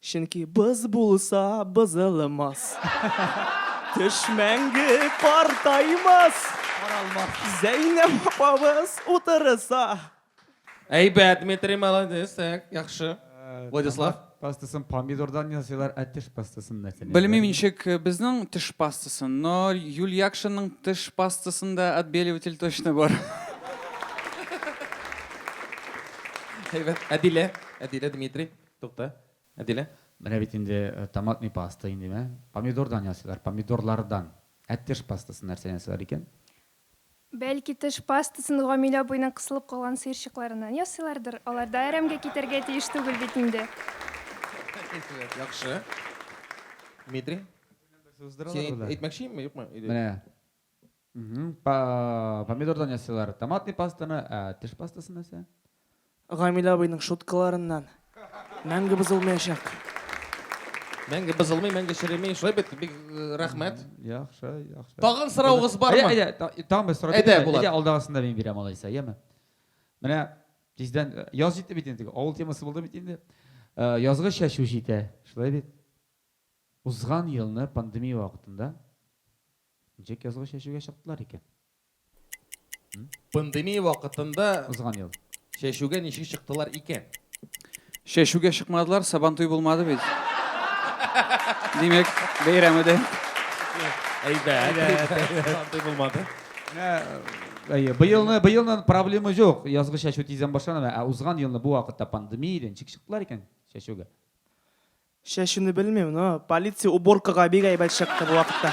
Чөнки боз булса, бозылмас. Төш мәңге картаймас. Каралмас. Зәйнәп апабыз утырса. Әйбәт, Дмитрий, молодец, так, яхшы. Владислав? Томат пастасын помидордан ясыйлар, ә теш пастасын нәрсәдән ясыйлар? Белмим ничек безнең теш пастасын, но Юль Якшинның теш пастасында отбеливатель точно бар. Әйбәт. Әдилә? Әдилә, Дмитрий? Тукта, Әдилә, менә бит инде томатный паста инде, мә, помидордан ясыйлар, помидорлардан. Ә теш пастасын нәрсәдән ясыйлар икән? Бәлки, теш пастасын Гамилә абыйның кысылып калган сыерчыкларыннан ясыйлардыр? Алар да әрәмгә китәргә тиеш түгел бит инде. Яхшы. Дмитрий, син әйтмәкче инме, юкмы? Менә. Помидордан ясыйлар томатный пастаны, ә теш пастасы нәрсә? Гамилә абыйның шуткаларыннан мәңге бозылмаячак. Мәңге бозылмый, мәңге череми. Шулай бит, бик рәхмәт. Яхшы, яхшы. Тагын сораугыз бармы? Әйдә, әйдә, тагын бер сорау. Әйдә, Булат. Әйдә, алдагысын да мин бирәм алайса, яме? Менә тиздән яз җитте бит инде, авыл темасы булды бит инде. Язгы чәчү җитә, шулай бит? Узган елны пандемия вакытында Ничек язгы чәчүгә чыктылар икән? М? Пандемия вакытында Узган ел. чәчүгә ничек чыктылар икән? Чәчүгә чыкмадылар, Сабантуй булмады бит. Димәк, бәйрәм иде. Әйбәт. Сабантуй булмады. Менә, әйе, быелны, быелны проблема юк. Язгы чәчү тиздән башлана, ә узган елны бу вакытта пандемия иде, ничек чыктылар икән чәчүгә? Чәчүне белмим, но полиция уборкага бик әйбәт чыкты бу вакытта.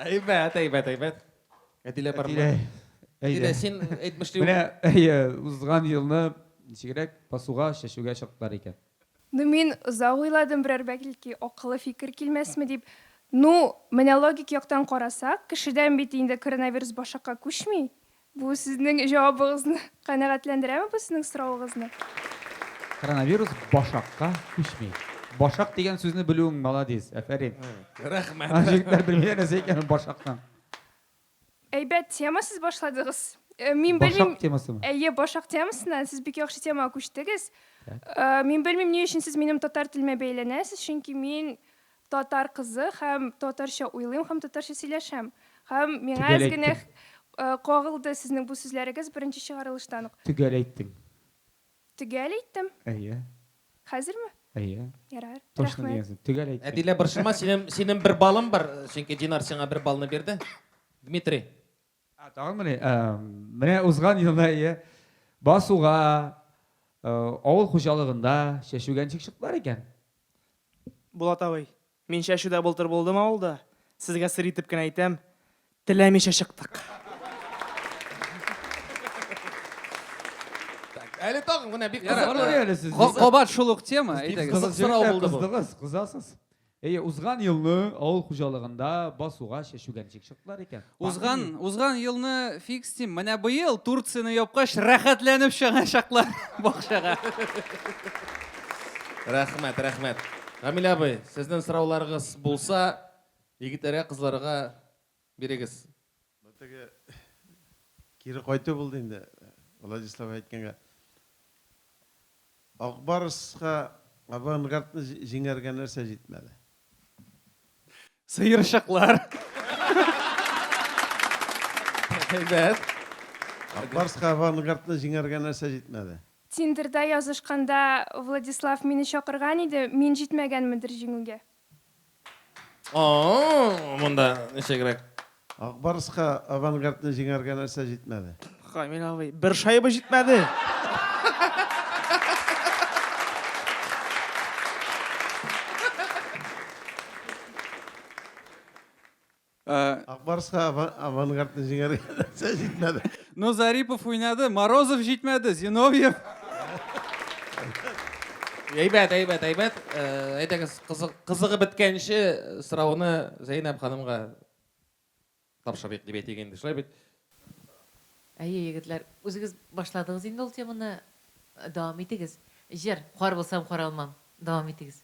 Әйбәт, әйбәт, әйбәт. Әтилә бар. Әтилә. Әйдә син әйтмешли. Менә әйе, узган елны ничегрәк басуга, чәчүгә чыктылар икән. Ну мин озак уйладым, берәр бәлки акыллы фикер килмәсме дип. Ну, менә логик яктан карасак, кешедән бит инде коронавирус башакка күчми. Бу сезнең җавабыгызны канәгатьләндерәме бу сезнең соравыгызны? Коронавирус башакка күчми. Башак дигән сүзне белүең маладис, әфәрин. Рәхмәт. Җегетләр белмиләр нәрсә икәнен башакның. Әйбәт тема сез башладыгыз. Мин белмим. Башак темасымы? Әйе, башак темасыннан сез бик яхшы темага күчтегез. Мин белмим ни өчен сез минем татар телемә бәйләнәсез, чөнки мин Татар кызы һәм татарча уйлыйм һәм татарча сөйләшәм. Һәм миңа Төгәл әз генә әйттең. кагылды сезнең бу сүзләрегез беренче чыгарылыштан ук. Төгәл әйттең. Төгәл әйттем. Әйе. Хәзерме? Әйе. Ярар. Точно Рәхмәт. дигәнсең. Төгәл әйттең. Әдилә, борчылма, синем синем бер балың бар, чөнки Динар сиңа бер балны бирде. Дмитрий. А, тагын мени? Ә, менә узган елда ие басуга авыл хуҗалыгында чәчүгә ничек чыктылар икән? Булат абый, мин чәчүдә былтыр булдым авылда. Сезгә сер итеп кенә әйтәм, теләмичә чыктык. Әле тагын гына бик кызыклы әле сез. Кабат шул ук тема, әйдәгез. Кызык сорау булды бу. Кыздыгыз, кызасыз. Әйе, узган елны авыл хуҗалыгында басуга чәчүгәнчек чыктылар икән. Узган, узган елны фикс дим, менә быел Турцияне япкач рәхәтләнеп чыгачаклар бакчага. Рәхмәт, рәхмәт. Гамилә абый, сезнең сорауларыгыз булса, егетләргә, кызларга Бирегез. Бу теге кире кайту булды инде, Владислав әйткәнгә. Ак Барска Авангардны җиңәргә нәрсә җитмәде? Сыерчыклар. Әйбәт. Ак Барска Авангардны җиңәргә нәрсә җитмәде? Тиндерда язышканда Владислав мине чакырган иде, мин җитмәгәнмендер җиңүгә. О, монда ничегрәк? Акбарыска авангардны җиңәргә нәрсә җитмәде? Камил абый, бер шайба җитмәде. Ак Барска авангардны җиңәргә нәрсә җитмәде? Ну, Зарипов уйнады, Морозов җитмәде, Зиновьев. Әйбәт, әйбәт, әйбәт. Әйдәгез, кызыгып беткәнче сорауны Зәйнәб ханымга тапшырыйк дип әйтик инде, шулай бит? Әйе, егетләр, үзегез башладыгыз инде ул теманы, дәвам итегез. Җыр, Кар булсам, кар алмам, дәвам итегез.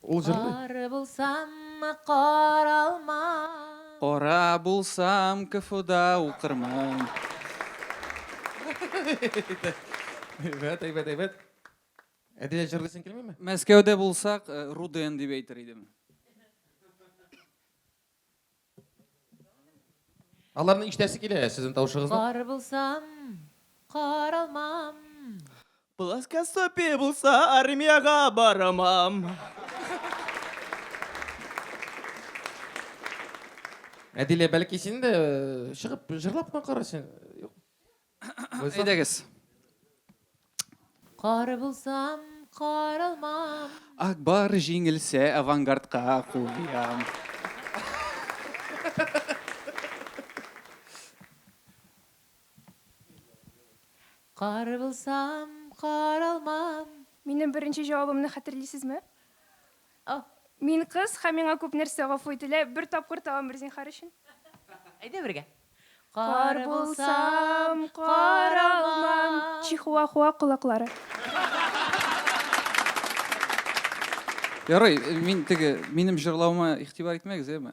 Ул җырлый. Кара булсам мы каралмам. Кара булсам КФУда укырмын. Әйбәт, әйбәт, әйбәт. Әдия җырлыйсың килмиме? Мәскәүдә булсак, Руден дип әйтер идем. Аларны ишетәсе килә сезнең тавышыгызны. Кар булсам, каралмам. Плоскостопие булса, армиягә барамам. Әдилә, бәлки син дә чыгып җырлап кына кара син. Әйдәгез. Кар булсам, каралмам. Акбар җиңелсә, авангардка кул биям. Кар булсам, каралмам. Минем беренче җавабымны хәтерлисезме? О, мин кыз һәм миңа күп нәрсә гафу ителә, бер тапкыр тагын бер зинһар өчен. Әйдә бергә. Кар булсам, кар алмам. Чихуахуа колаклары. Ярый, мин теге, минем җырлавыма игътибар итмәгез, әйеме?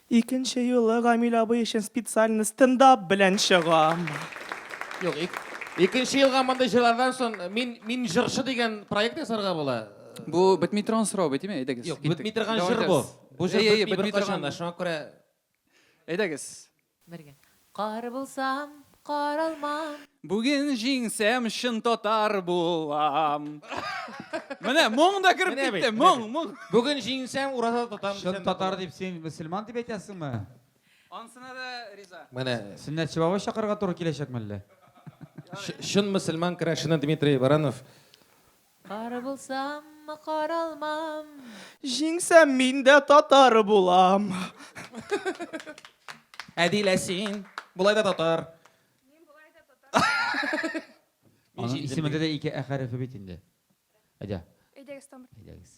Икенче юлы Гамил абый өчен специально стендап белән чыгам. Юк, ик, икенче елга мондый җырлардан сон мин, мин җырчы дигән проект ясарга була. Бу бетми торган сорау бит, име? Әйдәгез. Юк, киттек. бетми торган Дәвам җыр бу. итәбез. Бу җыр Әйе, әйе, бетми бетми беркайчан торган. да, шуңа күрә. Әйдәгез. Бергә. Кар булсам, каралмам. Бүген җиңсәм, чын татар булам. Менә моң да кереп Менә бит, китте, менә моң, бит. моң. Бүген җиңсәм, ураза тотам. Чын татар дип син мөселман дип әйтәсеңме? Ансына да риза. Менә Сөннәтче бабай чакырырга туры киләчәкме әллә? Чын мөселман керәшене Дмитрий Баранов Кар булсаммы, кар алмам. Җиңсәм мин дә татар булам. Әдилә син болай да татар. Мин болай да татар. Аның исемендә дә ике ә хәрефе бит инде. Әйдә. Әйдәгез тамыр. Әйдәгез.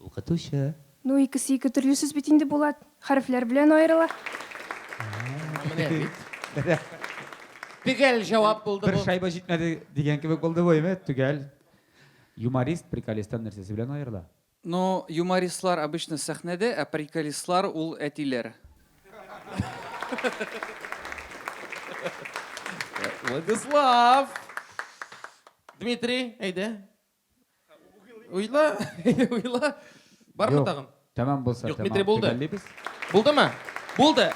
Укытучы. Ну, икесе ике төрле сүз бит инде, Булат. Хәрефләр белән аерыла. Менә бит. Төгәл җавап булды бу. Бер шайба җитмәде дигән кебек булды бу, әйме? Төгәл. Юморист приколисттан нәрсәсе белән аерыла? Ну, юмористлар обычно сәхнәдә, ә приколистлар ул әтиләр. Владислав! Дмитрий, әйдә. Уйла, уйла. Бармы тагын? Тәмам булса, Юк, Дмитрий булды. Булдымы? Булды.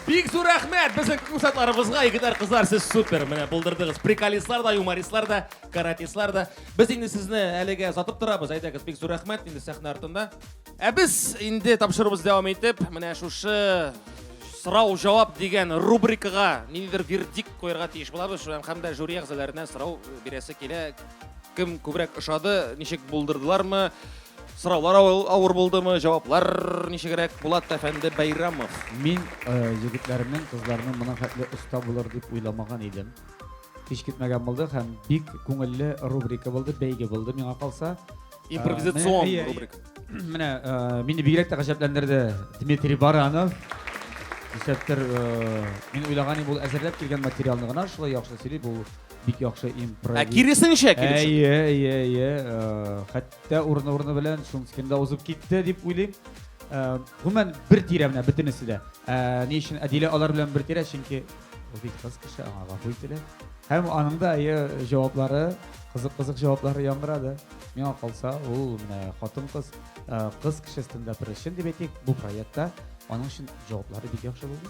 Бик зур рәхмәт безнең курсантларыбызга. Егетләр, кызлар, сез супер. Менә булдырдыгыз. Приколистлар да, юмористлар да, каратистлар да. Без инде сезне әлегә сатып торабыз. Әйдәгез, бик зур рәхмәт инде сәхнә артында. Ә без инде тапшыруыбыз дәвам итеп, менә шушы сорау жауап дигән рубрикага ниндидер вердикт куярга тиеш булабыз һәм дә жюри әгъзаларына сорау бирәсе килә Кем күбрәк ошады, ничек булдырдылармы? Сораулар авыр булдымы, җаваплар ничегрәк? Булат әфәнде Бәйрамов. Мин э, егетләрнең, кызларның моның хәтле оста булыр дип уйламаган идем. Һич көтмәгән булды һәм бик күңелле рубрика булды, бәйге булды миңа калса. Э, Импровизацион рубрика. Менә э, мине бигрәк тә гаҗәпләндерде Дмитрий Баранов. Исәптер, мин уйлаган идем, ул әзерләп килгән материалны гына шулай яхшы сөйли, бу бик яхшы импровиз. Ә киресенчә киресенчә. Әйе, әйе, әйе. Э, хәтта урыны-урыны белән Шунскин да узып китте дип уйлыйм. Э, гомумән бер тирә менә бөтенесе дә. Э, ни өчен Әдилә алар белән бер тирә? Чөнки ул бит кыз кеше, аңа гафу ителә. Һәм аның да әйе җаваплары, кызык-кызык җаваплары яңгырады. Миңа калса, ул менә хатын-кыз, кыз кеше стендапер өчен дип әйтик, бу проектта аның өчен җаваплары бик яхшы булды.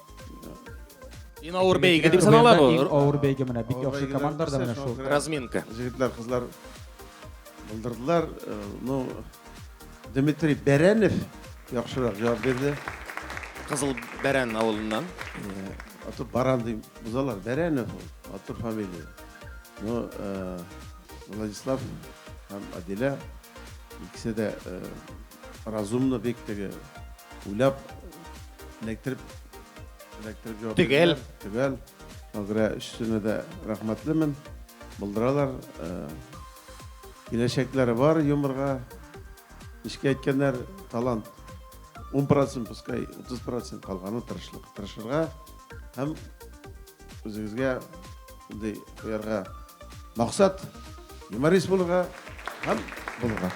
Иң авыр бәйге дип санала бу. Иң авыр бәйге менә бик яхшы командалар да менә шул. Разминка. Җегетләр, кызлар булдырдылар. Э, ну, Дмитрий Бәрәнев яхшырак җавап бирде. Кызыл Бәрән авылыннан. Э, Атып Баран дип бузалар. Бәрәнев ул, атып фамилия. Ну, э, Владислав һәм Адилә икесе дә Разумно бик теге. Уйлап эләктереп эләктереп җавап Төгәл. бирделәр. Төгәл. Шуңа күрә өчесенә дә рәхмәтлемен. Булдыралар. Э, Киләчәкләре бар юморга. Нечкә әйткәннәр, талант 10%, пускай 30% калганы тырышлык. Тырышырга һәм Үзегезгә шундый куярга максат, юморист булырга һәм булырга.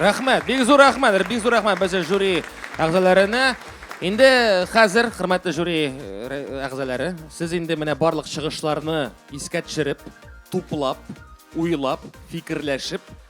Рәхмәт, бик зур рәхмәт, бик зур рәхмәт безнең жюри әгъзаларына. Инде хәзер, хөрмәтле жюри э, әгъзалары, сез инде менә барлык чыгышларны искә төшереп, туплап, уйлап, фикерләшеп,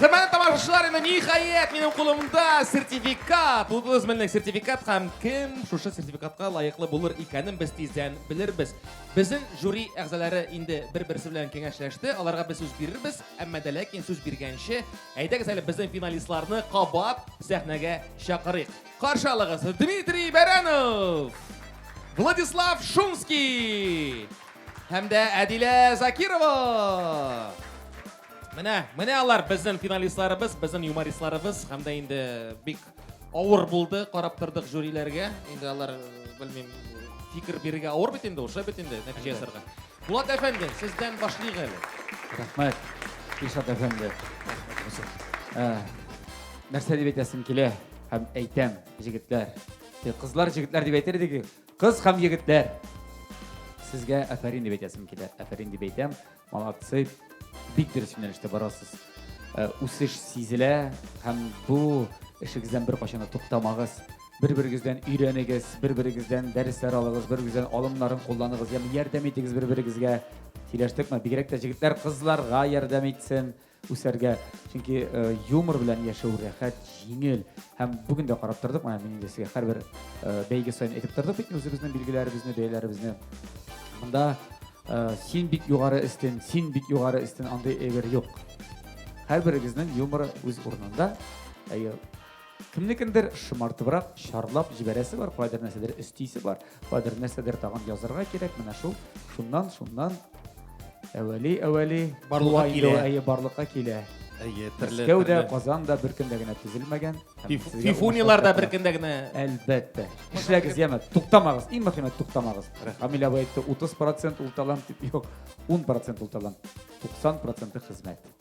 Хөрмәтле тамашачылар, инде ниһаять минем кулымда сертификат. Бу үзмәнлек сертификат һәм кем шушы сертификатка лаеклы булыр икәнен без тиздән белербез. Безнең жюри әгъзалары инде бер-берсе белән киңәшләште. Аларга без сүз бирербез. Әмма дә ләкин сүз биргәнче, әйдәгез әле безнең финалистларны кабат сәхнәгә чакырыйк. Каршы алыгыз Дмитрий Бәрәнов, Владислав Шумский һәм дә Әдилә Закирова. Менә, менә алар безнең финалистларыбыз, безнең юмористларыбыз һәм дә инде бик Авыр булды, карап тордык жюриләргә. Инде алар, белмим, фикер бирергә авыр бит инде, уже бит инде нәтиҗә ясарга. Булат әфәнде, сездән башлыйк әле. Рәхмәт, Ишат әфәнде. Ә, Нәрсә дип әйтәсем килә һәм әйтәм, җегетләр. Те, Кызлар, җегетләр дип әйтер идек. Кыз һәм егетләр. Сезгә афәрин дип әйтәсем килә. Афәрин дип әйтәм. Молодцы! Бик дөрес юнәлештә барасыз. Э, үсеш сизелә һәм бу эшегездән беркайчан да туктамагыз. Бер-берегездән өйрәнегез, бер-берегездән дәресләр алыгыз, бер-берегездән алымнарын кулланыгыз, ягъни ярдәм итегез бер-берегезгә. Сөйләштекме? Бигрәк тә җегетләр кызларга ярдәм итсен. үсәргә, чөнки э, юмор белән яшәү рәхәт, җиңел һәм бүген дә карап тордык, менә мин инде сезгә һәрбер э, бәйге саен әйтеп тордык бит үзебезнең билгеләребезне, бәяләребезне. Монда э, син бик югары өстен, син бик югары өстен андый әйбер юк. Һәрберегезнең юморы үз урынында. Әйе, Кемнекендер шомартыбрак чарлап җибәрәсе бар, кайдыр нәрсәдер өстисе бар, кайдыр нәрсәдер тагын язырга кирәк. Менә шул шуннан, шуннан әвәли, әвәли барлыкка килә. Әйе, барлыкка килә. Әйе, төрле. Мәскәү дә, Казан да бер көндә генә төзелмәгән. Фифунилар да бер көндә генә. Әлбәттә. Эшләгез, яме, туктамагыз. Иң мөхиме туктамагыз. Камил абый әйтте, 30% ул талант дип, юк, 10% ул талант, 90% хезмәт.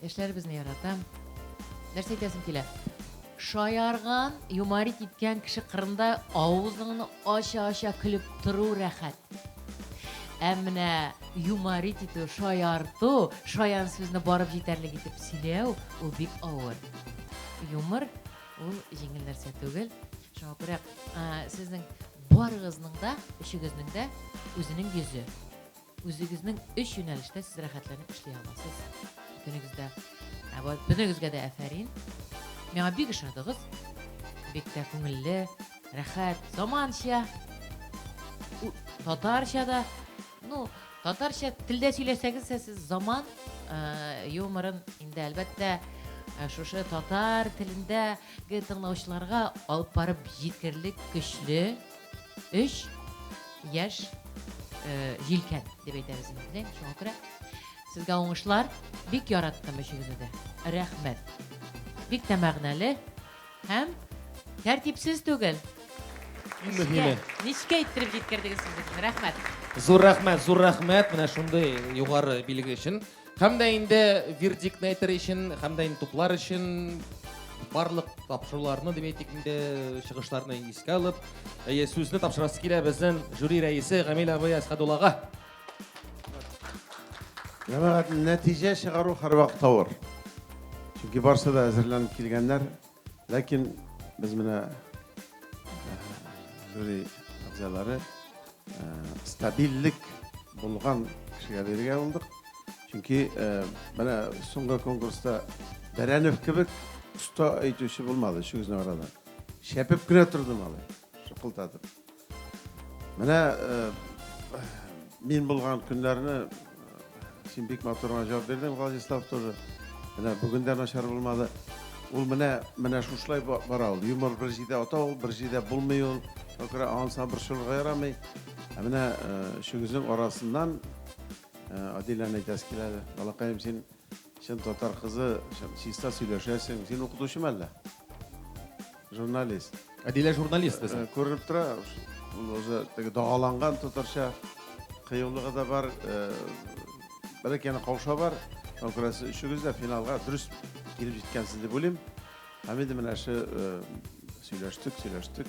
Яшьләребезне яратам. Нәрсә әйтәсем килә? Шаярган, юморить иткән кеше кырында авызыңны ача-ача көлеп тору рәхәт. Ә менә юморить итү, шаярту, шаян сүзне барып җитәрлек итеп сөйләү, ул бик авыр. Юмор, ул җиңел нәрсә түгел. Шуңа күрә сезнең барыгызның да, өчегезнең дә үзенең йөзе. Үзегезнең өч юнәлештә сез рәхәтләнеп эшли аласыз. Бөтенегездә, ә бу бөтенегезгә дә әфәрин. Миңа бик ошадыгыз. Бик тә күңелле, рәхәт, заманча. У, татарча да. Ну, татарча телдә сөйләсәгез, сез заман э, юморын инде әлбәттә э, шушы татар телендәге тыңлаучыларга алып барып җиткерлек көчле өч яшь җилкән дип әйтәбез инде шуңа күрә сезгә уңышлар бик яраттым өчегезне дә рәхмәт бик тә мәгънәле һәм тәртипсез түгел иң мөһиме нечкә иттереп җиткердегез сез безне рәхмәт зур рәхмәт зур рәхмәт менә шундый югары билге өчен Һәм дә инде вердиктны әйтер өчен, һәм дә инде туплар өчен барлык тапшыруларны, дип әйтик инде, чыгышларны искә алып, әйе, сүзне тапшырасы килә безнең жюри рәисе Гамил абый Әсхәдуллага. Җәмәгать, нәтиҗә чыгару һәрвакыт авыр. Чөнки барысы да әзерләнеп килгәннәр, Ләкин без менә жюри әгъзалары стабильлек булган кешегә бирергә булдык. Чөнки менә соңгы конкурста Бәрәнев кебек оста әйтүче булмады, шигезне арада. Шәпеп кенә торды малай, шыкылдатып. Менә мин булган көннәрне син бик матур гына җавап бирдең, Владислав тоже. Менә бүген дә начар булмады. Ул менә менә шушылай бара ул. Юмор бер җирдә ата ул, бер җирдә булмый ул. Күрә анса борчылырга ярамый. Ә менә өчегезнең арасыннан Адиләне әйтәсе килә әле. Балакаем, син Чын татар кызы, чиста сөйләшәсең. Син укытучы мәллә? Журналист. Әдилә журналист безнең. Э, күренеп тора, ул уже теге дагаланган татарча кыюлыгы да бар. Э, Бәләк яна кауша бар. Күрәсе өчегез дә финалга дөрес килеп җиткәнсез дип уйлыйм. Һәм инде менә ше э, сөйләштек, сөйләштек.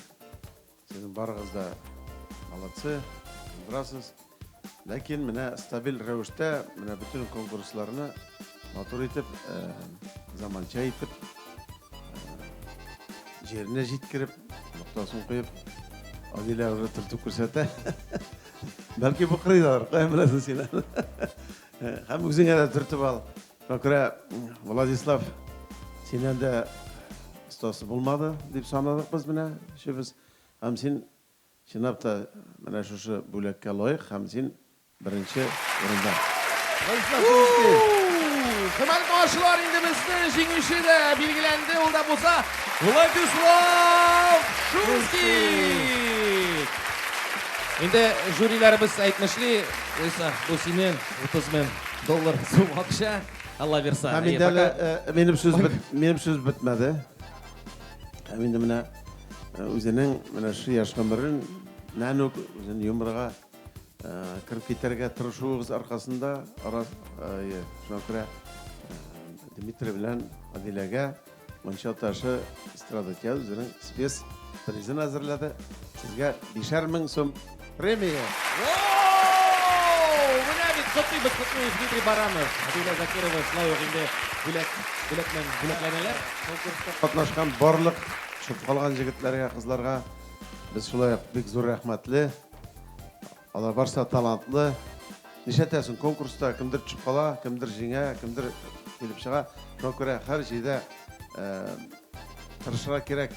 Сезнең барыгыз да молодцы, булдырасыз. Ләкин менә стабиль рәвештә менә бөтен конкурсларны матур итеп, э, заманча итеп, э, җиренә җиткереп, ноктасын куеп, Адилә уже төртеп күрсәтә. Бәлки бу кырыйлар, кая беләсең син? Һәм үзеңә дә төртеп ал. Бакыра, Владислав, синнән дә остасы булмады, дип санадык без менә өчебез. Һәм син чынлап та менә шушы бүләккә лаек һәм син беренче урында. Владислав Шумский. Хөрмәтле тамашачылар, инде безнең җиңүче дә билгеләнде, ул да булса Владислав Шумский. Инде жюриләребез әйтмешли, Лариса, бу синең 30 мең. Доллар, сум акча, Алла бирса. Һәм инде әле минем сүз минем сүз бетмәде. Һәм инде менә үзенең менә шул яшь гомерен нәнүк үзен юморга кереп китәргә тырышуыгыз аркасында, шуңа күрә Дмитрий белән Адиләгә Монча ташы эстрада театры үзенең спец призын әзерләде. Сезгә бишәр мең сум премия. Менә бит котлыйбыз, котлыйбыз Дмитрий Баранов, Адилә Закирова, шулай ук инде бүләк, бүләкмен, бүләкләнәләр. Конкурста катнашкан барлык чып калган җегетләргә, кызларга без шулай ук бик зур рәхмәтле. Алар барысы да талантлы. Нишләтәсең, конкурста кемдер төшеп кала, кемдер җиңә, кемдер килеп чыга. Шуңа күрә һәр җирдә тырышырга кирәк,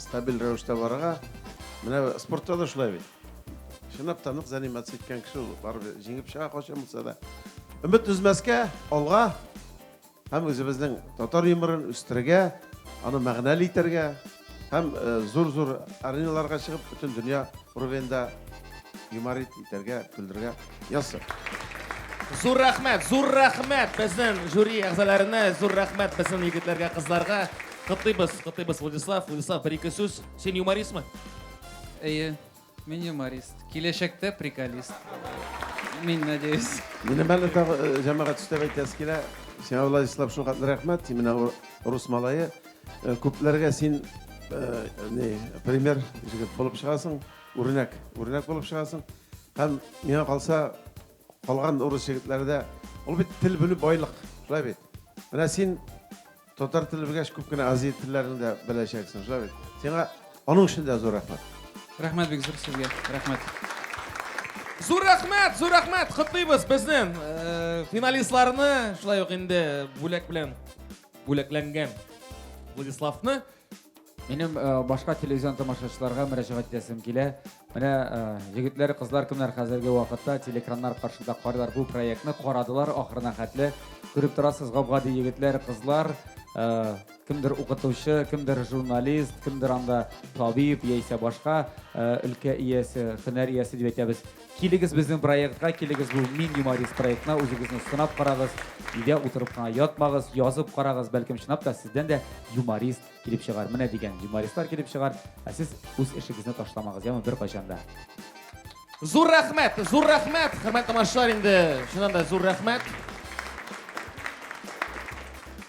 стабиль рәвештә барырга. Менә спортта да шулай бит. Чынлап та нык заниматься иткән кеше ул барыбер җиңеп чыга кайчан булса да. Өмет өзмәскә, алга! Һәм үзебезнең татар юморын үстерергә, аны мәгънәле итәргә һәм зур-зур ареналарга чыгып, бөтен дөнья уровеньда юморит итәргә, көлдергә язсын! Зур рәхмәт, зур рәхмәт безнең жюри әгъзаларына, зур рәхмәт безнең егетләргә, кызларга. Котлыйбыз, котлыйбыз, Владислав. Владислав, бер-ике сүз. Син юмористмы? Әйе. Мин юморист. Киләчәктә приколист. Мин надеюсь. Минем әле тагы э, җәмәгать өстәп әйтәсе килә. Сиңа Владислав шул хәтле рәхмәт. Син менә рус малае. Э, күпләргә син э, не пример җигеп булып чыгасың. Үрнәк, үрнәк булып чыгасың. Һәм миңа калса калган урыс җегетләрдә ул бит тел белү байлык, шулай бит. Менә син Татар теле белгәч, күп кенә Азия телләрен дә беләчәксең, шулай бит? Сиңа аның өчен дә зур рәхмәт. Рәхмәт бик зур сезгә. Рәхмәт. Зур рәхмәт, зур рәхмәт. Котлыйбыз безнең э, финалистларны, шулай ук инде бүләк белән бүләкләнгән Владиславны. Минем э, башка телевизион тамашачыларга мөрәҗәгать итәсем килә. Менә э, егетләр, кызлар кемнәр хәзерге вакытта телекраннар каршында карыйлар бу проектны, карадылар ахырына хәтле. Күреп торасыз, гап-гади егетләр, кызлар, э, кемдер укытучы, кемдер журналист, кемдер анда табиб яисә башка өлкә иясе, һөнәр иясе дип әйтәбез. Килегез безнең проектка, килегез бу Мин юморист проектына, үзегезне сынап карагыз, өйдә утырып кына ятмагыз, язып карагыз, бәлкем чынлап та сездән дә юморист килеп чыгар. Менә дигән юмористлар килеп чыгар, ә сез үз эшегезне ташламагыз, яме беркайчан да. Зур рәхмәт, зур рәхмәт, хөрмәтле тамашачылар, инде чыннан да зур рәхмәт.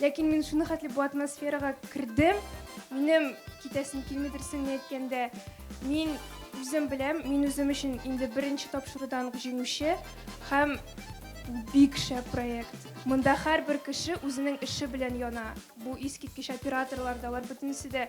Ләкин мин шуны хәтле бу атмосферага кердем, минем китәсем килми дөресен әйткәндә, мин үзем беләм, мин үзем өчен инде беренче тапшырудан ук җиңүче һәм бик шәп проект. Монда һәрбер кеше үзенең эше белән яна. Бу искиткеч операторлар да, алар бөтенесе дә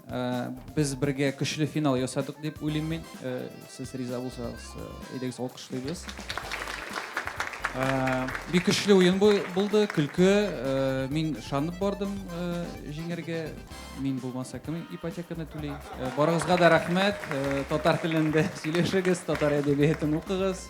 Без бергә көчле финал ясадык дип уйлыйм мин. Сез риза булсагыз, әйдәгез алкышлыйбыз. Бик көчле уен булды, көлке. Мин ышанып бардым җиңәргә. Мин булмаса кем ипотеканы түли? Барыгызга да рәхмәт. Татар телендә сөйләшегез, татар әдәбиятын укыгыз.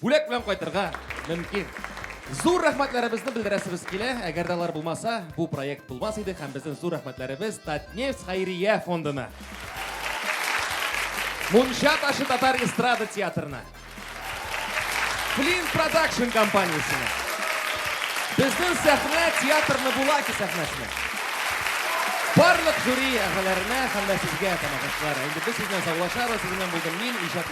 Бүләк белән кайтырга мөмкин. Зур рәхмәтләребезне белдерәсебез килә. Әгәр дә алар булмаса, бу проект булмас иде һәм безнең зур рәхмәтләребез Татнефть хәйрия фондына. Мунча ташы татар эстрада театрына. Флинт продакшн компаниясенә. Безнең сәхнә театрны Булаки сәхнәсенә. Барлык жюри әгъзаларына һәм дә сезгә, тамашачылар. Инде без сезнең саулашабыз, сезнең булдым мин, иҗат